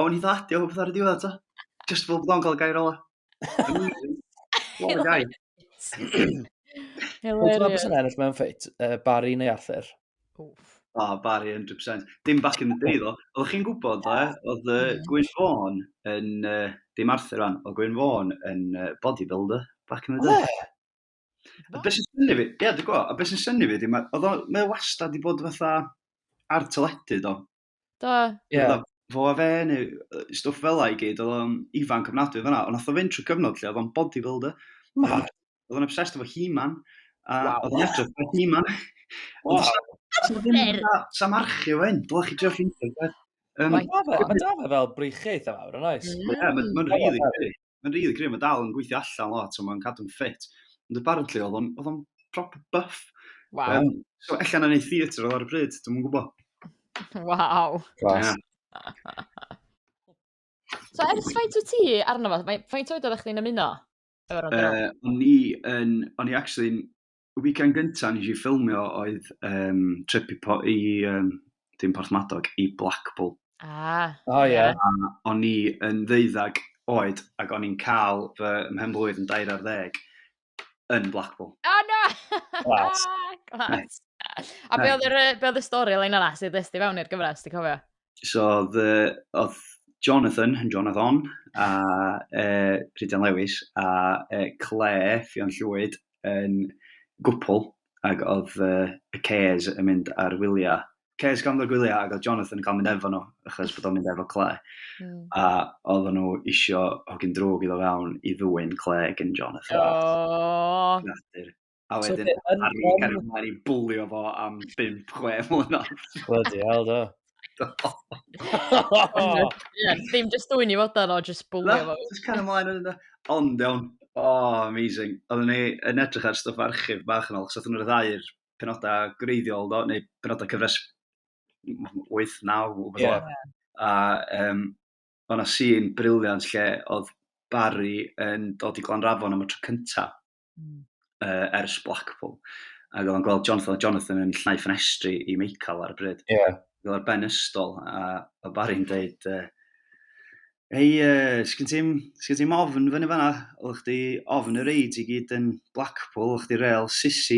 Ond ni ddadio hwb ar y diwedd, ta. Just fel bod o'n cael y gair ola. What a guy. Hilarious. Ti'n ennill mewn ffeit, uh, Barry neu Arthur? Oof. O, oh, Barry, 100%. Dim back in the day, ddo. Oeddech chi'n gwybod, ddo, eh? oedd uh, Gwyn Fawn yn... Uh, dim Arthur rhan, oedd Gwyn Fawn yn uh, bodybuilder back in the day. Oh, A beth sy'n syni fi, ie, dwi'n gwybod, a beth sy'n syni fi, oedd o'n wastad i bod fatha ar teledu do, Do. Ie. Yeah. Fo a fe neu stwff fel la i gyd, oedd o'n ifanc ofnadwy fanna, ond nath o fynd trwy cyfnod lle oedd o'n bodybuilder. Mad. Oedd o'n obsessed efo He-Man. A wow. oedd o'n edrych efo He-Man. Wow. Sa marchio fe hyn, dylech chi drio ffeindio fe. Um, mae da fe fel breichiaeth am awr, yn oes? Ie, mae'n rili Mae'n rili gryf, mae dal yn gweithio allan lot, so mae'n cadw'n ffit. Ond apparently, oedd o'n, oedd o'n proper buff. Wow. Um, so, allan yn ei theatr oedd ar y bryd, dwi'n mwyn gwybod. Wow. Glas. Yeah. so, ers faint o ti arno fo? Faint oed oeddech chdi'n ymuno? Uh, o'n i yn, o'n i actually y weekend gyntaf nes i ffilmio oedd um, trip i, po, i um, dim Porthmadog, i Blackpool. Ah. O, oh, ie. Yeah. A o'n i yn ddeuddag oed, ac o'n i'n cael fy mhenblwydd yn dair ar ddeg yn Blackpool. Oh, no! Glas. Glas. A be oedd y stori lein yna sydd ddysdi fewn i'r gyfres, ti'n cofio? so oedd, uh, oedd Jonathan, yn Jonathan, a uh, Rhydian Lewis, a uh, Claire, Fion Llwyd, yn gwpl, ac oedd uh, y Cares yn mynd ar wyliau. Cares gan ddod gwyliau, ac oedd Jonathan yn cael mynd efo nhw, achos bod o'n mynd efo Claire. Mm. A oedd nhw isio hogyn drwg iddo fewn i ddwy'n Claire gen Jonathan. Oh. A wedyn, so, ar ôl cael ei mlaen i bwlio fo am 5-6 mlynedd. Bloody hell, do. Ie, ddim just dwy'n i fod ar o, just bwlio fo. Just cael ei mlaen yn yna. Ond iawn, oh, amazing. Oedden ni yn edrych ar stwff archif bach yn ôl, chos oedden nhw'n rhyddhau'r penodau greiddiol, do, neu penodau cyfres 8-9, yeah. a um, o'na sy'n briliant lle oedd Barry yn dod i Glanrafon am y tro cyntaf. mm. uh, ers Blackpool. Ac oedd o'n gweld Jonathan, Jonathan yn llnau ffenestri i Michael ar y bryd. Yeah. Oedd o'r ben ystol, a, a Barry'n dweud, uh, Ei, uh, sgyn ti'n ti ofn fyny fanna? Oedd chdi ofn y reid i gyd yn Blackpool, oedd chdi real sisi.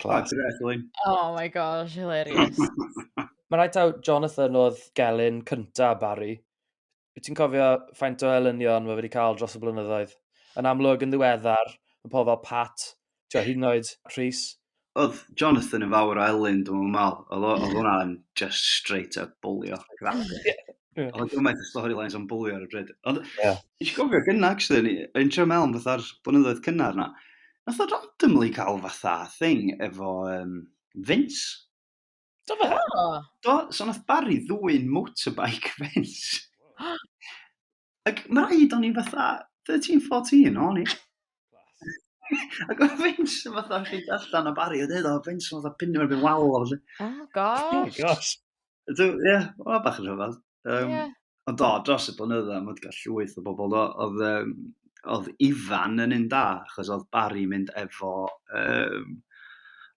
Class. Oh my gosh, hilarious. Mae rhaid taw Jonathan oedd gelyn cynta Barry. Wyt ti'n cofio faint o elynion mae wedi cael dros y blynyddoedd? Yn amlwg yn ddiweddar, y pobl fel Pat, ti'n hyn oed Rhys. Oedd Jonathan yn fawr o elyn, dwi'n meddwl. Oedd hwnna'n just straight up bwlio. Yeah. Oedd gymaint o storylines o'n bwlio ar y bryd. Ond, yeah. eisiau gofio gyna, actually, yn trio mewn fatha'r blynyddoedd cynnar na. Nath o randomly cael fatha thing efo um, Vince. Do fe? Oh. Do, so nath Barry ddwy'n motorbike Vince. Ac mae rhaid o'n i fatha 13-14, o'n i. Class. Ac oedd Vince yn fath o chi allan o bari, oedd oedd Vince yn fath o pinio erbyn wal o felly. Oh, oh gosh. gosh. Ie, yeah, o bach yn rhyfedd. Um, yeah. Ond do, dros y blynydda, mae wedi cael llwyth o bobl, do, oedd, um, oedd Ifan yn un da, achos oedd Barry mynd efo um,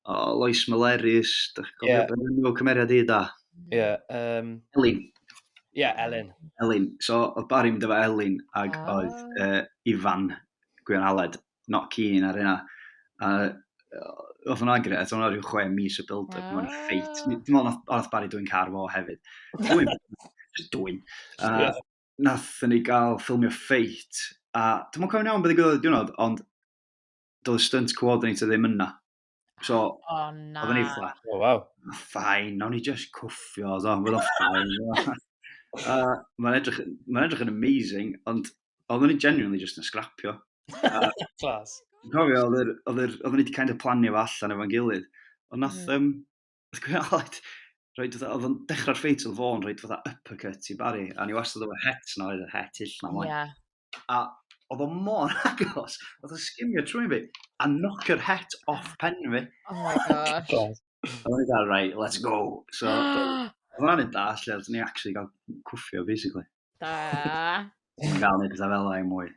o, Lois Maleris, dych chi'n gofio yeah. beth nhw cymeriad i da? Ie, yeah, um... Elin. Ie, yeah, Elin. Elin. So, oedd Barry mynd efo Elin, ac oh. oedd uh, Ifan, Gwion Aled, not keen ar yna. A oedd hwnna gyda, oedd hwnna rhyw chwe mis o build up, mae'n ffeit. Ah. Dwi'n meddwl nath, nath Barry dwi'n car fo hefyd. Dwi'n, just dwi'n. Uh, nath ni gael ffilmio ffeit, a dwi'n meddwl cofio'n iawn beth i gwybod y diwrnod, ond doedd stunt coordinator ddim yna. So, oh, na. oedd yn eitha. O, oh, waw. Ffain, nawn ni just cwffio, oedd o'n fyddo ffain. uh, Mae'n edrych, ma edrych yn amazing, ond oedd o'n genuinely just yn scrapio. Uh, Clas. Cofio, oedd o'n wedi kind of planio fo allan efo'n gilydd. Ond nath, mm. um, Oedd Gwyn Aled, roed fatha, oedd o'n dechrau'r ffeit oedd fo'n roed fatha uppercut i Barry, a ni wastad oedd y het na, oedd y het ill na mlaen. Yeah. A oedd o mor agos, oedd o'n sgimio trwy'n fi, a knock yr het off pen fi. Oh my gosh. a o'n i dal, right, let's go. So, oedd o'n da, lle oedd ni actually gael cwffio, basically. Da. Mae'n gael neud pethau fel ei mwy.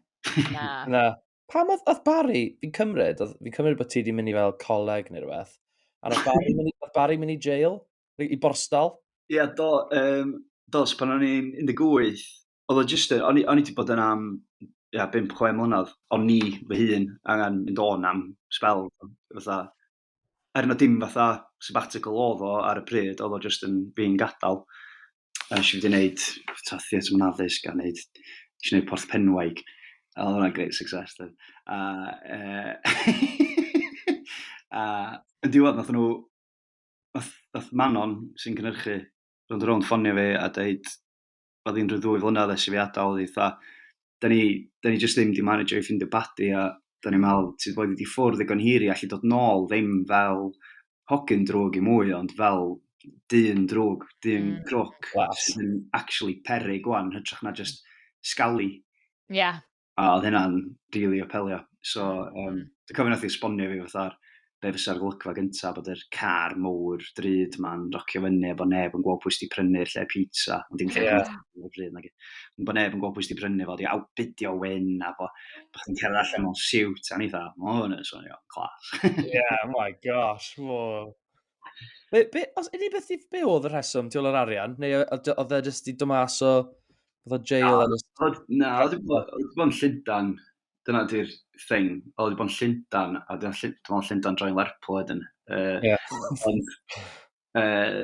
Na. Na. Pam oedd, oedd Barry, fi'n cymryd, oedd, fi'n cymryd bod ti wedi mynd i fel coleg neu rhywbeth, a oedd Barry mynd i, oedd Barry mynd i jail, i i borstal. Ie, yeah, do, um, dos, pan o'n i'n 18, oedd o jyst, yn- o'n i o'n i 'di bod yn am ia, 5-6 mlynedd, o'n ni fy hun angen mynd o'n am sbel, fatha, er na dim fatha sabbatical oedd o ar y pryd, oedd o jyst yn fi'n gadael. A nes i wedi gwneud ta theatr mewn addysg a wneud, nes i wneud Porth Penwaig. A oedd hwnna'n great success. Dyn. A, uh, a yn diwedd, nath nhw, nath, nath Manon sy'n cynhyrchu, roedd yn rhywun ffonio fi a dweud, oedd hi'n rhyw ddwy flynedd ers i fi adael, oedd hi fatha, da ni, da ni jyst ddim wedi manager i ffindio badi a da ni'n meddwl, ti'n bod wedi ffwrdd ddigon hir i allu dod nôl, ddim fel hogyn drwg i mwy, ond fel dyn drwg, dyn mm. crwc, sy'n actually perig gwan, hytrach na just scally. Ie. Yeah. A oedd hynna'n rili apelio. So, um, dwi'n cofio nath i esbonio fi fatha'r be fysa'r golygfa gyntaf, bod yr car mowr drud ma'n rocio fyny, bod neb yn gweld pwy sydd wedi prynu'r lle pizza, ond dim lle yeah. pizza o'r drud nag Bod neb yn gweld pwy sydd wedi prynu fo, di awbidio wyn, a bo, bo chi'n cerdded allan mewn siwt, a ni dda, mo hwn yn swnio clas. yeah, oh my gosh, mo. Be, be, os ydy beth i be oedd y rheswm, ti o'r arian? Neu oedd e jyst i dymas o... Oedd o jail yn ystod? Na, oedd wedi bod yn Llundan. Dyna di'r thing. Oedd wedi bod yn Llundan, a dyna Llundan, Llundan droi'n Lerpwl wedyn. Uh, yeah. ond, uh,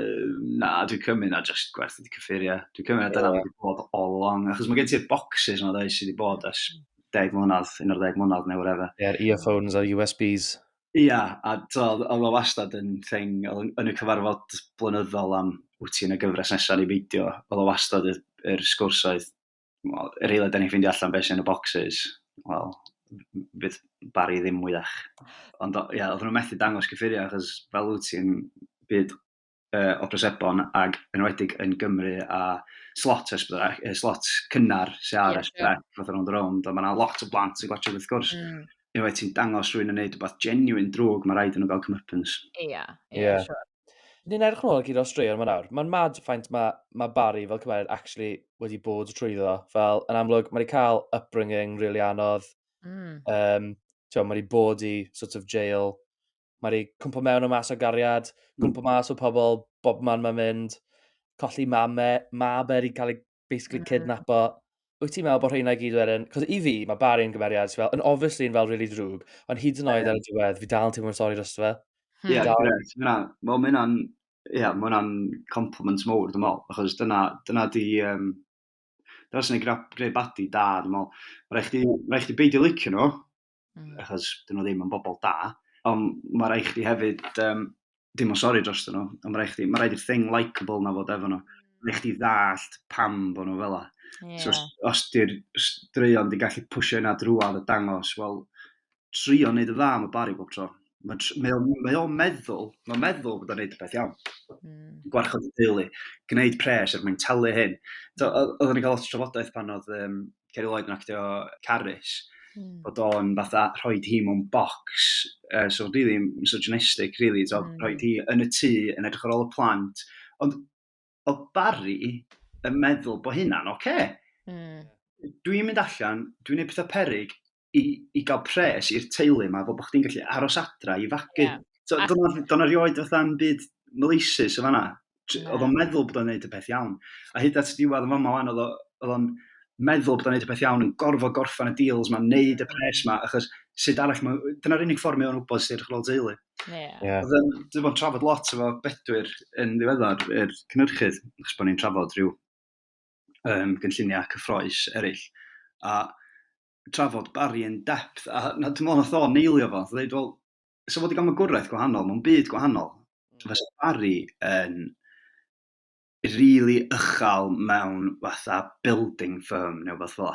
na, dwi'n cymryd na just gwerth wedi cyffuriau. Dwi'n cymryd na dyna wedi bod all along. Achos mae gen ti'r boxes yma, dweud, sydd wedi bod ers deg mlynedd, un o'r deg mlynedd neu whatever. Ie, yeah, earphones a USBs. Ia, a t'od o'dd o wastad yn thing yn yn y cyfarfod blynyddol am wyt ti yn y gyfres nesaf neu beidio, oedd o wastad yr, yr sgwrs oedd, wel, yr eiliad da ni'n ffeindio allan beth sy'n y boxes, wel, fydd Barry ddim mwyach. Ond ia, oedden nhw'n methu dangos cyffuriau achos fel wyt ti'n byd uh, o drosebon ac yn enwedig yn Gymru a slot ers bod e, slot cynnar sy'n ar ers bod e, fath o'n rownd, ond mae yna lot o blant sy'n gwachod wrth gwrs. Mm. Unwaith ti'n dangos rwy'n yn neud rhywbeth genuine drwg, mae rhaid yn nhw gael cymypens. Ie, yeah, ie, yeah, yeah. sure. Ni'n edrych nôl gyda'r straeon yma nawr. Mae'n mad ffaint mae, mae Barry fel cymeriad actually wedi bod trwy ddo. Fel, yn amlwg, mae wedi cael upbringing really anodd. Mm. Um, mae wedi bod i sort of jail Mae rhi cwmpo mewn o mas o gariad, hmm. cwmpo mas o pobl, bob man mae'n mynd, colli mame, mab er i cael ei basically hmm. cydnapo. Wyt ti'n meddwl bod rheina i gyd wedyn? Cos i fi, mae Barry yn gymeriad sy'n fel, yn obviously yn fel really drwg, ond hyd yn oed ar y diwedd, fi dal yn teimlo'n sori dros fe. Hmm. Ie, gret. Mae hwnna'n yeah, mae hwnna'n compliment mowr, dwi'n meddwl, achos dyna, dyna di, um, dyna sy'n ei greu badi da, dwi'n meddwl. Mae rhaid chdi, rhaid chdi beidio licio nhw, mm. achos dyn nhw ddim yn bobl da, ond mae rhaid chdi hefyd, um, dim o sori dros dyn nhw, ond mae rhaid chdi, mae rhaid i'r thing likeable na fod efo nhw. Mm. Mae rhaid chdi ddallt pam bod nhw fel la. Yeah. So, os di'r straeon di gallu pwysio yna drwad a dangos, wel, trio wneud y dda am y bari bob tro. Mae mae o'n mae o'n meddwl, mae'n meddwl bod o'n neud peth iawn. Mm. Gwarchod y deulu, gwneud pres er mwyn talu hyn. So, o- oedden ni'n cael lot o trafodaeth pan oedd um, Ceri Lloyd yn actio Carys, mm. bod o'n fatha rhoi hi mewn box, uh, so really misogynistic, really, so, mm. rhoi hi yn y tŷ, yn edrych ar ôl y plant. Ond o Barry yn meddwl bod hynna'n oce. Okay. Mm. Dwi'n mynd allan, dwi'n gwneud pethau perig, i, i gael pres i'r teulu yma, bod chdi'n gallu aros adra i fagu. Yeah. So, Do'n rioed fatha'n byd maleisus o fanna. Yeah. Oedd o'n meddwl bod o'n gwneud y peth iawn. A hyd at diwedd yn fama fan, oedd o'n meddwl bod o'n gwneud y peth iawn, yn gorfod gorffan y deals mae'n neud y pres yma, achos sut arall, ma, dyna'r unig ffordd mae o'n wybod sy'n edrych ar ôl teulu. Yeah. Yeah. Dwi bod yn trafod lot efo bedwyr yn ddiweddar, yr er cynhyrchydd, achos bod ni'n trafod rhyw um, gynlluniau cyffroes eraill. A trafod Barry yn depth, a na, dwi'n meddwl nath o neilio fo, nath o ddeud, wel, so fod i gael magwraeth gwahanol, mae'n byd gwahanol. Mm. Fysa Barry yn rili really ychal mewn fatha building firm neu beth fel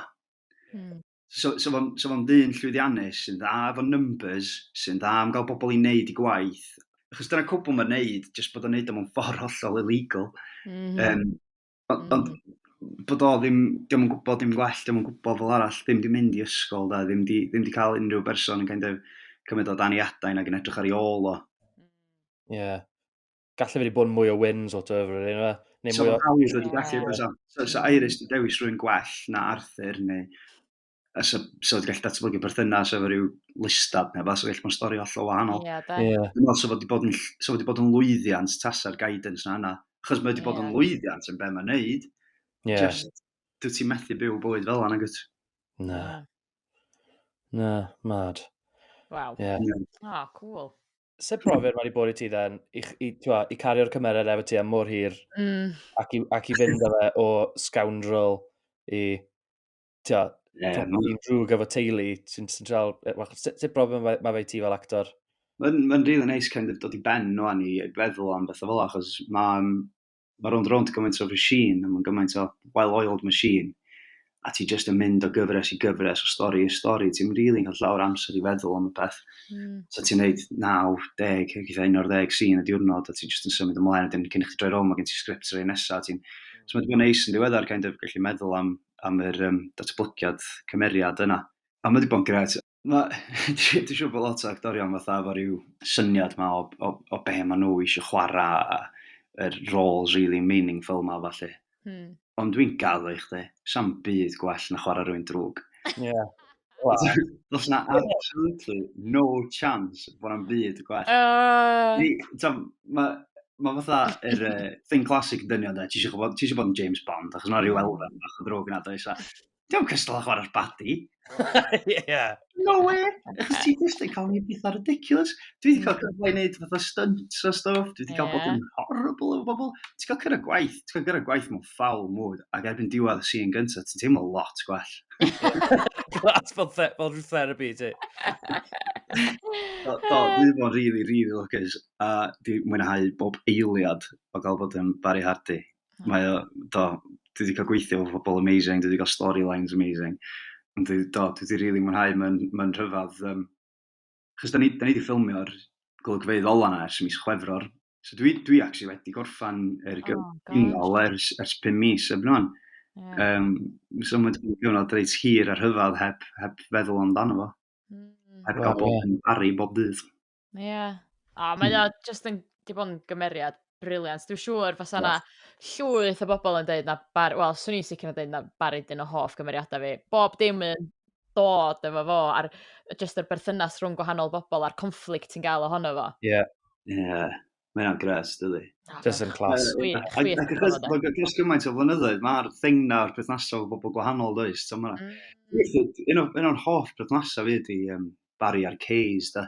mm. So, so fo'n so fo ddyn llwyddiannus sy'n dda efo numbers, sy'n dda am gael bobl i wneud i gwaith. Achos dyna cwbl mae'n neud, jyst bod o'n neud o'n ffordd hollol illegal. Mm -hmm. um, Ond, mm. ond bod o ddim, diolch yn gwybod dim gwell, diolch yn gwybod fel arall, ddim di mynd i ysgol, da, ddim di, ddim di cael unrhyw berson yn kind of cymryd o dan ei adain ac yn edrych ar ei ôl o. Ie. Yeah. Gallu wedi bod mwy o win, sort of, really, yna. Neu so, mwy o... Iris wedi gallu, yeah. so, so Iris di dewis rwy'n gwell na Arthur, neu... a so, so wedi gallu datblygu perthynas efo rhyw listad neu fath, so gallu bod yn stori hollol wahanol. Ie, da. Ie. Dwi'n meddwl, so wedi bod yn, so wedi bod yn lwyddiant tasa'r guidance na yna. Achos mae wedi bod yn lwyddiant yn be mae'n neud. Ie. Just, dwi ti'n methu byw bywyd fel yna, gwyt? Na. Na, mad. Waw. Ie. Yeah. Oh, cool. Se profiad mae wedi bod i ti then, i, i, twa, i cario'r cymeriad efo ti am mor hir, mm. ac, i, ac i fynd â fe o scoundrel i Tio, yeah, dwi'n drwg efo teulu, ti'n dal... Sut brofiad mae fe i ti fel actor? Mae'n ma rili neis kind of dod i ben nhw o'n i feddwl am beth o fel achos mae'n ma rownd rownd gymaint o machine, mae'n gymaint o well-oiled machine, a ti jyst yn mynd o gyfres i gyfres, o stori i stori, ti'n rili really cael llawer amser i feddwl am y peth. Mm. So ti'n neud 90, eitha 11 sy'n y diwrnod, a ti'n jyst yn symud ymlaen, wedyn cyn i chi droi rownd, mae gen ti sgript rei nesaf, ti'n... Mm. So mae'n bod neis yn diweddar, kind of, gallu meddwl am am yr um, datblygiad cymeriad yna. A mae wedi bod yn gret. Dwi'n siŵr bod lot o actorion fatha efo rhyw syniad ma o, o, o be maen nhw eisiau chwarae a yr roles really meaningful ma falle. Hmm. Ond dwi'n gaddo i chdi, sam byd gwell na chwarae rwy'n drwg. Ie. Yeah. Does na absolutely no chance bod na'm byd yn gwell. Uh... Mae ma fatha yr uh, thing classic yn dynion, ti eisiau bod, ti bod yn James Bond, achos yna rhyw elfen bach o ddrwg yna, does? Diolch yn cystal â chwarae'r badi. yeah. No way! Achos ti'n just yn cael ni pethau ridiculous. Dwi wedi cael cyfle i wneud fatha stunts a stuff, dwi wedi cael bod yn horrible o bobl. Ti'n cael cyrra gwaith, ti'n cael cyrra gwaith mewn foul mood, ac erbyn diwedd y scene gyntaf, ti'n teimlo lot gwell. Glas fel, the, fel rhyw therapy ti. do, do, dwi bod really, really lwcus, a dwi mwynhau bob eiliad o gael bod yn Barry Hardy. Hmm. Mae o, do, dwi wedi cael gweithio o bobl amazing, dwi wedi cael storylines amazing. Ond dwi, do, dwi wedi really mwynhau, mae'n ma rhyfedd um, achos da ni, da ni wedi ffilmio'r golygfeydd ola yna ers mis chwefror, so dwi, dwi actually wedi gorffan yr gyfnol oh, ers, ers pum mis eb nhw'n. Yeah. Um, so mae'n gyfnod reit hir a rhyfedd heb, heb feddwl amdano fo. Mm. Heb gael bod yn pari bob dydd. Ie. Yeah. A mae o just yn, di bod yn gymeriad Brilliant. Dwi'n siŵr fysa 'na llwyth o bobl yn deud na bar- wel, 'swn i'n sicr yn deud na Barry'n un o hoff gymeriadau fi. Bob dim yn dod efo fo a'r yy jyst yr berthynas rhwng gwahanol bobl a'r conflict ti'n gael ohono fo. Ie. Ie. Mae hynna'n gres, dydi? Na, Jyst mae'n yn class. chwi- Ac chwith ac achos gormod o- bod dros gymaint o flynyddoedd, mae'r thing 'na o'r perthnasau efo bobl gwahanol, does? Tibod, mae 'na... Mm. Weithiau, un o- un o'n hoff perthnasau fi ydy yym, Barry a'r Kays, de.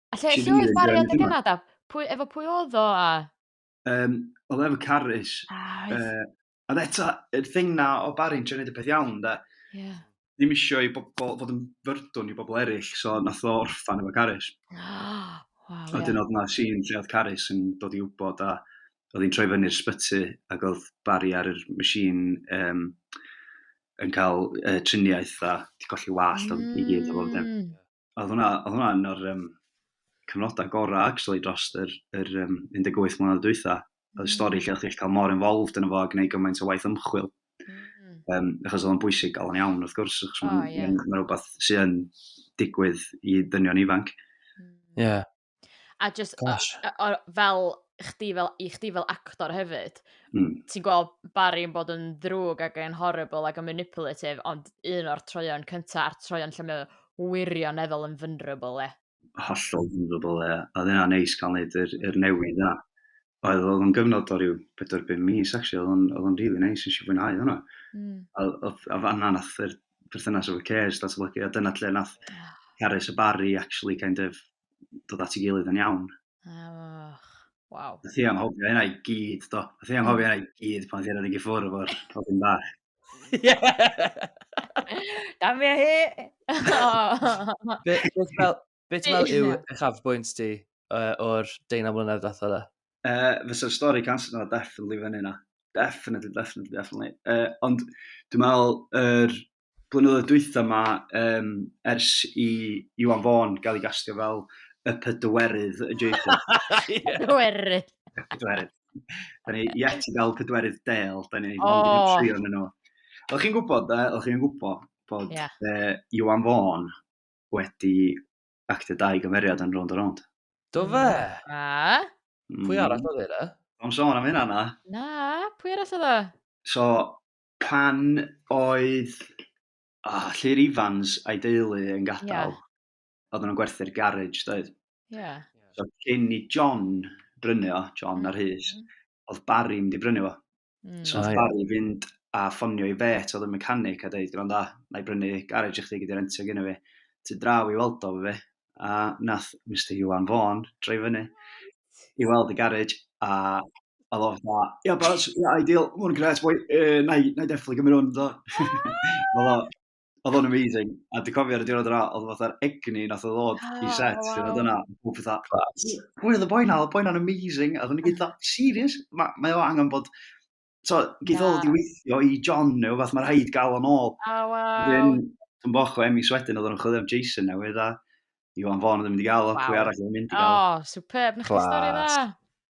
A lle, lle oedd Barry adeg yna da? Pwy, efo pwy oedd o a? Um, oedd efo Carys. Ah, oedd. Uh, ond eto, y thing na o Barry'n trio gwneud y peth iawn, da. Yeah. Ddim eisiau i bobl fod yn fyrdwn i bobl eraill, so nath o orffan efo Carys. Oh, wow, a dyn oedd yna sy'n lle oedd Carys yn dod i wybod a oedd hi'n troi fyny'r sbyty ac oedd Barry ar yr machine um, yn cael uh, triniaeth a di colli wallt mm. i gyd o fod. oedd hwnna, oedd hwnna yn o'r um, cyfnodau gorau actually dros yr, yr um, 18 mlynedd dwytha. Oedd mm. stori lle oedd chi'n cael mor involved yn y fo a gwneud gymaint o waith ymchwil. Mm. Um, achos oedd o'n bwysig gael yn iawn, wrth gwrs, achos oh, mae'n yeah. ma rhywbeth sy'n digwydd i ddynion ifanc. Ie. Yeah. A jyst o- Gosh. yy o fel chdi fel i chdi fel actor hefyd... Hmm. ...ti'n gweld Barry yn bod yn ddrwg ac yn horrible ac yn manipulative ond un o'r troeon cynta a'r troeon lle mae o wirioneddol yn vulnerable ie. Hollol vulnerable ie. Odd e'n neis ca'l neud yr yr newid yna. oedd oedd o'n gyfnod o ryw 4-5 mis actually, oedd o'n, oedd o'n really nice, nes i fwynhau hwnna. Mm. A, a fanna nath yr perthynas efo Cares datblygu, a dyna lle nath Cares a Barry actually kind of dod at ei gilydd yn iawn. Oh, wow. Nath i anghofio hynna i gyd, do. Nath i anghofio hynna i gyd pan ddyn nhw'n gyffwrdd efo'r pobyn bach. Damia hi! Beth fel, Be ti'n meddwl yw uchafbwynt ti uh, o'r deunaw mlynedd ddath yna? Uh, Fysa'r stori cancer yna definitely fyny yna. Definitely, definitely, definitely. Uh, ond dwi'n meddwl, yr er, blynyddoedd dwytha yma, um, ers i Iwan Fawn gael ei gastio fel y pydwerydd y Jacob. Pydwerydd. Pydwerydd. Da ni yet i gael pydwerydd del, da ni oh. ond yn trio yn yno. Oedd chi'n gwybod, oedd chi'n gwybod bod yeah. uh, Iwan Fawn wedi actio dau gymeriad yn Rownd a Rownd. Do fe? A? Mm. Pwy arall oedd e? Am sôn am hynna na. Na, pwy arall oedd e? So, pan oedd oh, Llyr Ifans a'i deulu yn gadael, yeah. oedd nhw'n gwerthu'r garage, doedd? Ie. Yeah. So, cyn i John brynu o, John mm. ar hys, oedd Barry mynd i brynu o. Mm. So nath Barry fynd a ffonio i fet oedd y mechanic a dweud, gwranda, na i brynu garage i chdi gyda rentio gyda fi. Ti draw i weld o fe, a nath Mr Iwan Fawn droi fyny i weld y garage, a oedd o'n fa, ia, bas, ia, ideal, mwyn gret, boi, uh, na i, na i definitely gymryd hwn, do. Oedd o, oedd o'n amazing. A dwi'n cofio ar y diwrnod yna, oedd o'n fatha'r egni nath o ddod oh, i ah, set. Wow. Dwi'n yna, dwi'n fatha, pwy oedd y boi na? Oedd y boi na'n amazing. A dwi'n gyd dda, serious? Mae ma o angen bod... So, gyd yeah. i weithio i John neu fath, mae rhaid gael o'n ôl. Oh, wow. Dwi'n dwi'n boch o Emi Swedyn, oedd o'n chwilio am Jason newydd, a Iwan Fôn oedd yn mynd i gael o, pwy arall oedd yn mynd i gael o. Oh, superb, na chi stori dda.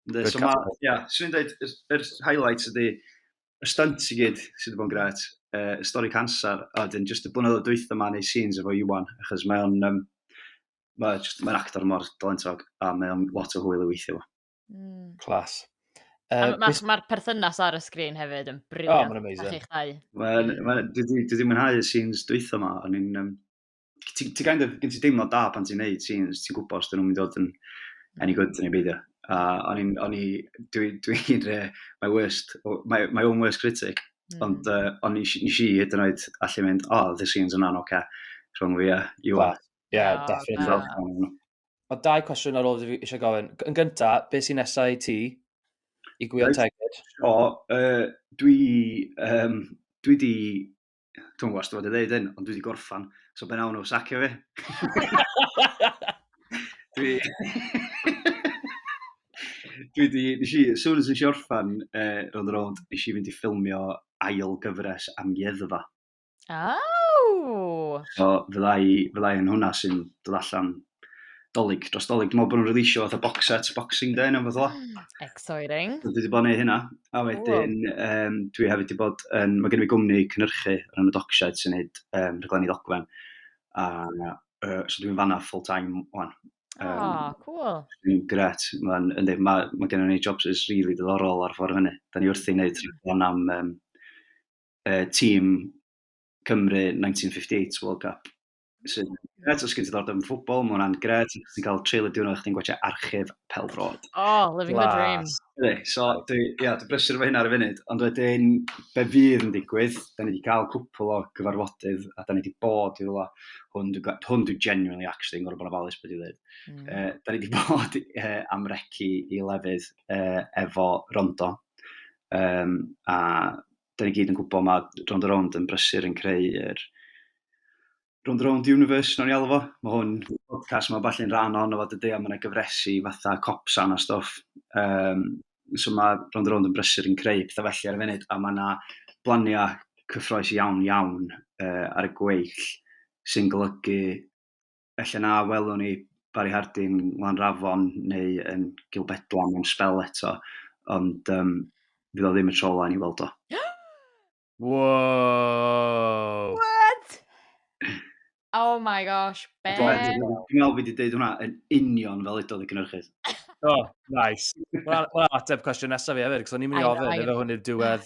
Ynddi, so ma, ia, swn i'n dweud, yr highlights ydy, y stunt i gyd sydd wedi bod yn gret, uh, y stori cancer, a dyn just y blynyddoedd dwytha ma neu scenes efo Iwan, achos mae o'n, um, mae just, mae'n actor mor dalentog, a mae o'n lot o hwyl i weithio fo. Mm. Clas. Uh, Mae'r ma, perthynas ar y sgrin hefyd yn briliant. Oh, mae'n amazing. Mae'r chi'ch dau. Mae'n, ma, dwi wedi mwynhau y scenes dwytha ma, o'n i'n, um, ti, ti kind of, gen ti deimlo da pan ti'n neud scenes, ti'n gwybod os dyn nhw'n mynd i fod yn any good neu beidio. A o'n i'n, o'n i, dwi, dwi, dwi, my worst, my, my own worst critic, mm. ond uh, o'n i, nes i hyd yn oed allu mynd, oh, the scenes yna'n oce, okay, rhwng fi a you are. Yeah, oh, definitely. Mae dau cwestiwn ar ôl fi eisiau gofyn. Yn gyntaf, beth sy'n nesau i ti i gwylio right. tegyd? O, uh, dwi, um, dwi di Dwi'n gwybod os dwi'n fod i ddeud hyn, ond dwi wedi gorffan. So be nawn nhw, sacio fi? dwi... dwi wedi... Nes i, sŵn nes i orffan uh, rownd y rownd, nes i fynd i ffilmio ail gyfres am ieddfa. Oh! So fydda i, fydda i yn hwnna sy'n dod allan dolyg, dros dolyg. Dwi'n meddwl bod nhw'n releasio fatha box set, boxing day, neu fath o. Hmm, exciting. Dwi wedi bod yn neud hynna. A wedyn, um, dwi hefyd wedi bod yn... Mae gen i gwmni cynhyrchu ar hynny Dockshed sy'n neud um, rhaglenni ddogfen. A uh, so dwi'n fanna full time o'n. Um, oh, cool. Dwi'n gret. Mae'n ynddi, mae, mae gen i jobs is really diddorol ar ffordd hynny. Da ni wrth i wneud rhaglen am um, uh, tîm Cymru 1958 World Cup. sy'n gret, os gen ti ddordeb yn ffwbol, mae hwnna'n gret, os ti'n cael treulio diwrnod chdi'n gwachio archif pel drod. Oh, living the dream. So, dwi, ia, dwi brysur efo hynna ar y funud, ond wedyn, be fydd yn digwydd, da ni wedi cael cwpl o gyfarfodydd, a da ni wedi bod i rwla, hwn, hwn dwi genuinely actually yn gorau bod yn ofalus beth i ddweud. Mm. Uh, da ni wedi bod uh, am recu i lefydd uh, efo rondo, um, a da ni gyd yn gwybod mae Round a Round yn brysur yn creu yr Round a Round Universe, nawn ni alw fo. Mae hwn, podcast mae falle'n rhan o'n o fod y dea, mae yna gyfresu fatha copsan a stoff. Um, so mae Round a Round yn brysur yn creu pethau felly ar y funud, a mae yna blaniau cyffroes iawn iawn uh, ar y gweill sy'n golygu Felly na welwn ni Barry Harding, Lanrafon neu yn Gilbedlan am sbel eto, ond um, fydd o ddim y tro ola ni weld o. Wow! What? Oh my gosh, be? Dwi'n meddwl fi wedi dweud hwnna yn union fel edodd y cynnyrchydd. oh, nice. Wel, well, ateb cwestiwn nesaf fi hefyd, cos o'n i'n mynd i ofyn, efo hwn i'r diwedd.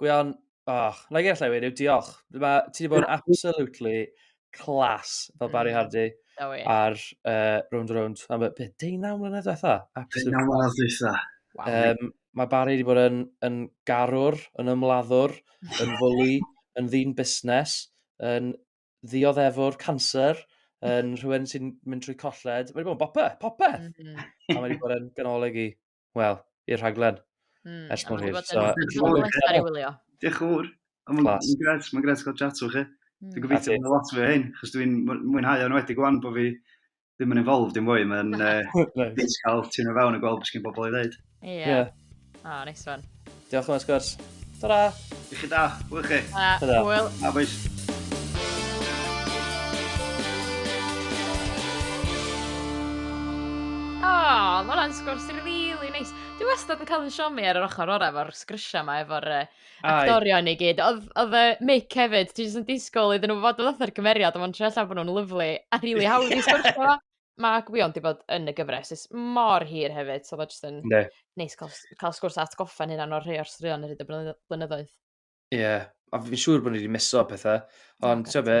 Gwion, oh, na i allai wedi, diolch. Mae, ti wedi bod yn absolutely class fel Barry mm. Hardy ar uh, Round Round. Am beth, deunaw mlynedd diwetha? Deunaw mlynedd diwetha. Um, mae Barry wedi bod yn, yn garwr, yn ymladdwr, yn fwli, yn ddyn busnes, yn ddioddefwr cancer, yn rhywun sy'n mynd trwy colled. Mae wedi bod yn bopeth, popeth. Mm -hmm. A mae wedi bod yn ganolig i. wel, i'r rhaglen. Mm, ers mor hir. So, Diolch yn fawr. Mae'n gret, mae'n gret gael chat o'ch chi. Hmm. Dwi'n gobeithio bod lot fwy o hyn, chos dwi'n mwynhau o'n wedi gwan bod fi ddim yn involved yn fwy, mae'n uh, nice. cael ti'n o fewn a gweld beth sy'n bobl i ddeud. Ie. Yeah. Yeah. Oh, nice one. Diolch yn fawr, Sgwrs. Ta-ra! I chi da, hwyl chi. Ta-ra. Hwyl. A boys. mae hwnna'n sgwrs really neis. Dwi wastad yn cael yn siomi ar yr ochr orau efo'r sgrisiau yma, efo'r uh, actorion i gyd. Oedd y mic hefyd, ti'n jyst yn disgwyl iddyn nhw fod yn fatha'r cymeriad, ond mae'n trefn allan bod nhw'n lyflu a rili hawdd i sgwrsio. mae gwion di bod yn y gyfres is mor hir hefyd, so mae jyst yn ne. neis cael, cael sgwrs atgoffa'n hynna o'r rhai o'r straeon ar hyd y blynyddoedd. Ie, yeah. a fi'n siŵr bod ni wedi miso pethau, ond ti'n be,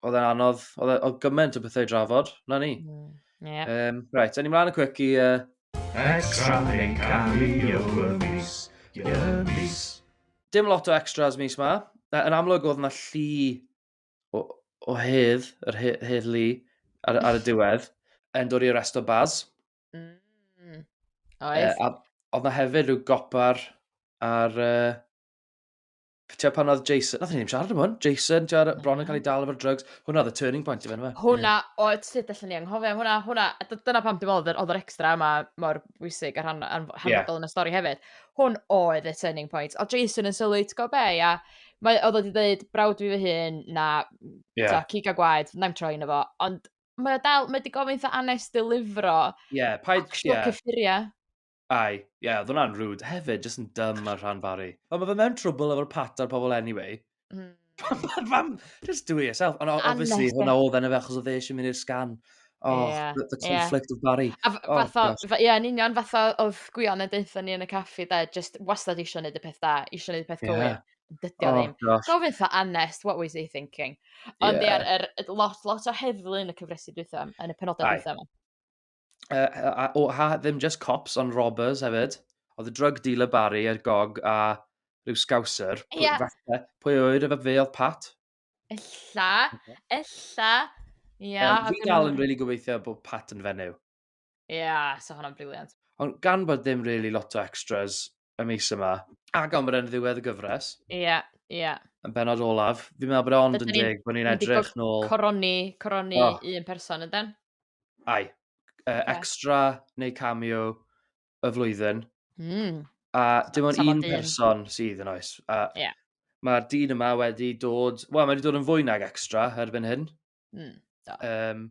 oedd e'n anodd, oedd e, gymaint o bethau i drafod, na ni. Mm. Yeah. Um, right, a ni mlaen y cwic i... Uh... Extra yn cael y mis, y mis. Dim lot o extras mis ma. Yn amlwg oedd yna llu o, o hedd, yr he, hedd lu, ar, ar y diwedd, yn dod i resto baz. Mm. Oes. Uh, a, oedd na hefyd rhyw gopar ar... Uh, Ti'n pan oedd Jason, nath ni'n siarad am hwn, Jason, ti'n no. bron yn cael ei dal efo'r drugs, hwnna oedd y turning point i fe, fe. Hwna, o, ti'n dweud allan ni anghofio, hwnna, hwnna, dyna pam dim oedd yr extra yma mor bwysig ar hanfodol yeah. yn y stori hefyd. Hwn oedd y turning point, o Jason yn sylwi, ti'n go be, a Mae, oedd wedi dweud, brawd fi fy hun, na, yeah. ta, cig a gwaed, na'n troi yn efo. Ond mae o dal, mae wedi gofyn eitha anes dilifro. Ie, yeah, paid... Actual yeah. cyffuriau. Ai, ie, yeah, oedd hwnna'n rwyd hefyd, jyst yn dym ar rhan fari. Ond mae fe mewn trwbl efo'r patar pobl anyway. Mm. Fam, just do it yourself. Ond obviously, hwnna oedd enw fe, achos oedd e eisiau mynd i'r sgan. Oh Ia the the ia. conflict of Bari. A f- Oh fatha gosh. f- ia yn union fatha odd Gwion yn deutho ni yn y caffi 'de jyst wastad isio neud y peth da isio neud y peth cywir. Ia. Dydi o Oh ddim. gosh. Gofyn 'tha Anest what was he thinking? Ond ia Ie. yr yr yy lot lot o heddlu yn y cyfresi dwytha yn y penoda Aye. dwytha 'ma. Yy a- a- o ha ddim jyst cops on robbers hefyd. Odd y drug dealer Bari a'r gog a ryw scouser pwy Ia. fatha pwy a ŵyr efo fe odd Pat? Ella, ella. Ia. Um, fi dal yn really gobeithio bod Pat yn fenyw. Ia, yeah, so hwnna'n briliant. Ond gan bod ddim really lot o extras y mis yma, a gan bod e'n ddiwedd y gyfres. Ia, yeah, ia. Yeah. Yn benod olaf, fi'n meddwl bod e ond yn deg bod ni'n edrych nôl... Coroni, coroni oh. un person, yden? Ai. Uh, yeah. Extra neu cameo, y flwyddyn. Mm. A dim ond un person sydd yn oes. A yeah. Mae'r dyn yma wedi dod... Wel, mae wedi dod yn fwy nag extra erbyn hyn. Mm, um,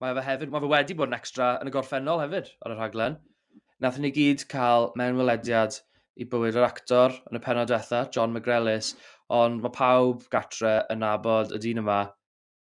mae fe hefyd... Mae fe wedi bod yn extra yn y gorffennol hefyd ar y rhaglen. Nath ni gyd cael mewn welediad i bywyd yr actor yn y penod diwetha, John McGrellis, ond mae pawb gatre yn nabod y dyn yma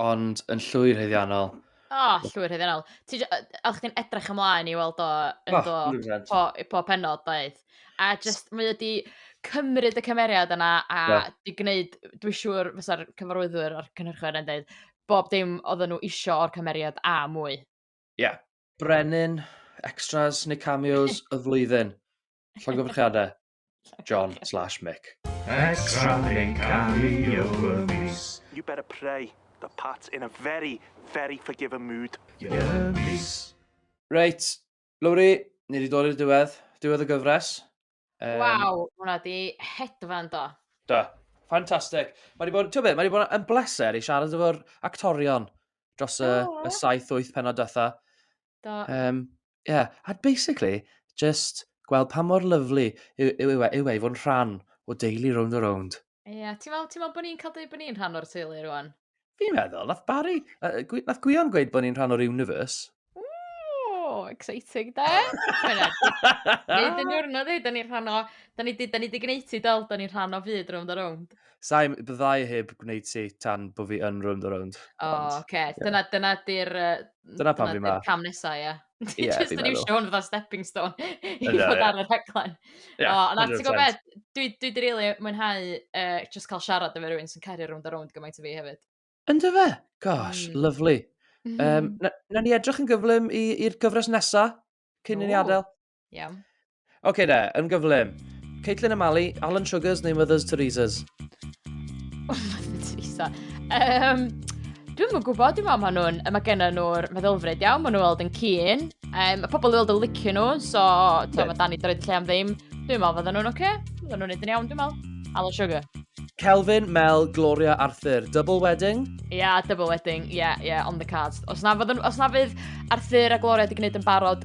Ond yn llwyr heddiannol. O, oh, llwyr heddiannol. Oedd chdi'n edrych ymlaen i weld o yn oh, do, po, po penod, doedd. A just, mae wedi cymryd y cymeriad yna a yeah. di gwneud, dwi'n siŵr fysa'r cyfarwyddwyr o'r cynhyrchwyr yn dweud, bob dim oedden nhw isio o'r cymeriad a mwy. Ie. Yeah. Brenin, extras neu cameos y flwyddyn. Llongyfarchiadau. John slash Mick. Extra yn cario y mis. You better pray that Pat's in a very, very forgiving mood. Y mis. Reit, Lowri, ni wedi dod i'r diwedd. Diwedd y gyfres. Um, Waw, hwnna di hedfan do. Do, ffantastig. Mae wedi bod, ti'n byd, mae wedi bod yn bleser i siarad efo'r actorion dros y, oh. y 7-8 penod dytha. Do. Um, yeah. A basically, just gweld pa mor lyflu yw, yw, yw, e, yw e i fod yn rhan o deulu round a round. Ie, yeah, ti'n meddwl, ti meddwl bod ni'n cael dweud bod ni'n rhan o'r teulu rwan? Fi'n meddwl, nath Barry, uh, nath Gwion gweud bod ni'n rhan o'r universe. Ooh, exciting da. Nid yn diwrnod ei, da ni'n rhan o, da ni di, da ni di gwneud ti dol, da ni'n rhan o fyd round a round. Saim, byddai heb gwneud ti tan bod fi yn rownd a rownd. O, oh, oce. Okay. Yeah. Dyna, dyna di'r... Dyna pan fi ma. Cam nesa, ie. Ie, yeah, fi'n meddwl. Just yn fatha stepping stone i fod yeah. ar y rhaglen. Yeah, oh, ond ti'n gwybod beth, dwi, dwi di rili really mwynhau uh, just cael siarad efo rhywun sy'n cario rownd a rownd gymaint o fi hefyd. Ynddo fe? Gosh, mm. lovely. Um, na, na ni edrych yn gyflym i'r gyfres nesa, cyn i ni adael. Iawn. Oce okay, de, yn gyflym. Caitlin a Mali, Alan Sugars neu Mothers Teresa's? Oh, Mothers Teresa. Um, Dwi'n mwyn gwybod, dwi'n meddwl, maen nhw'n, mae gen nhw'r meddylfryd iawn, maen nhw'n weld yn cyn. Um, mae pobl yn weld yn licio nhw, so yeah. mae Danny droed lle am ddim. Dwi'n meddwl fydden nhw'n oce, okay. fydden nhw'n edrych iawn, dwi'n meddwl. Alan Sugar. Kelvin, Mel, Gloria, Arthur. Double wedding? Ie, yeah, double wedding. Ie, yeah, ie, yeah, on the cards. Os na, fydden, os na fydd Arthur a Gloria wedi gwneud yn barod,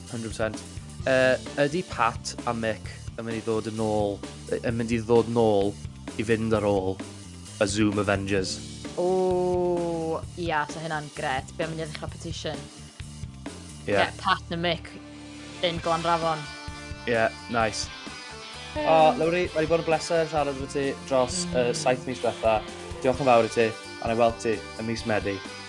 100%. Yy, ydy Pat a Mick yn mynd i ddod yn ôl, yn mynd i ddod yn ôl i fynd ar ôl y Zoom Avengers? O, ia, so hynna'n gret. Be am mynd i ddechrau petition? Ie. Yeah. Pat a Mick yn Glanrafon. Ie, yeah, nice. Hey. O, oh, Lowri, mae wedi bod yn bleser siarad efo ti dros mm. uh, saith mis diwetha. Diolch yn fawr i ti, a na i weld ti y mis Medi.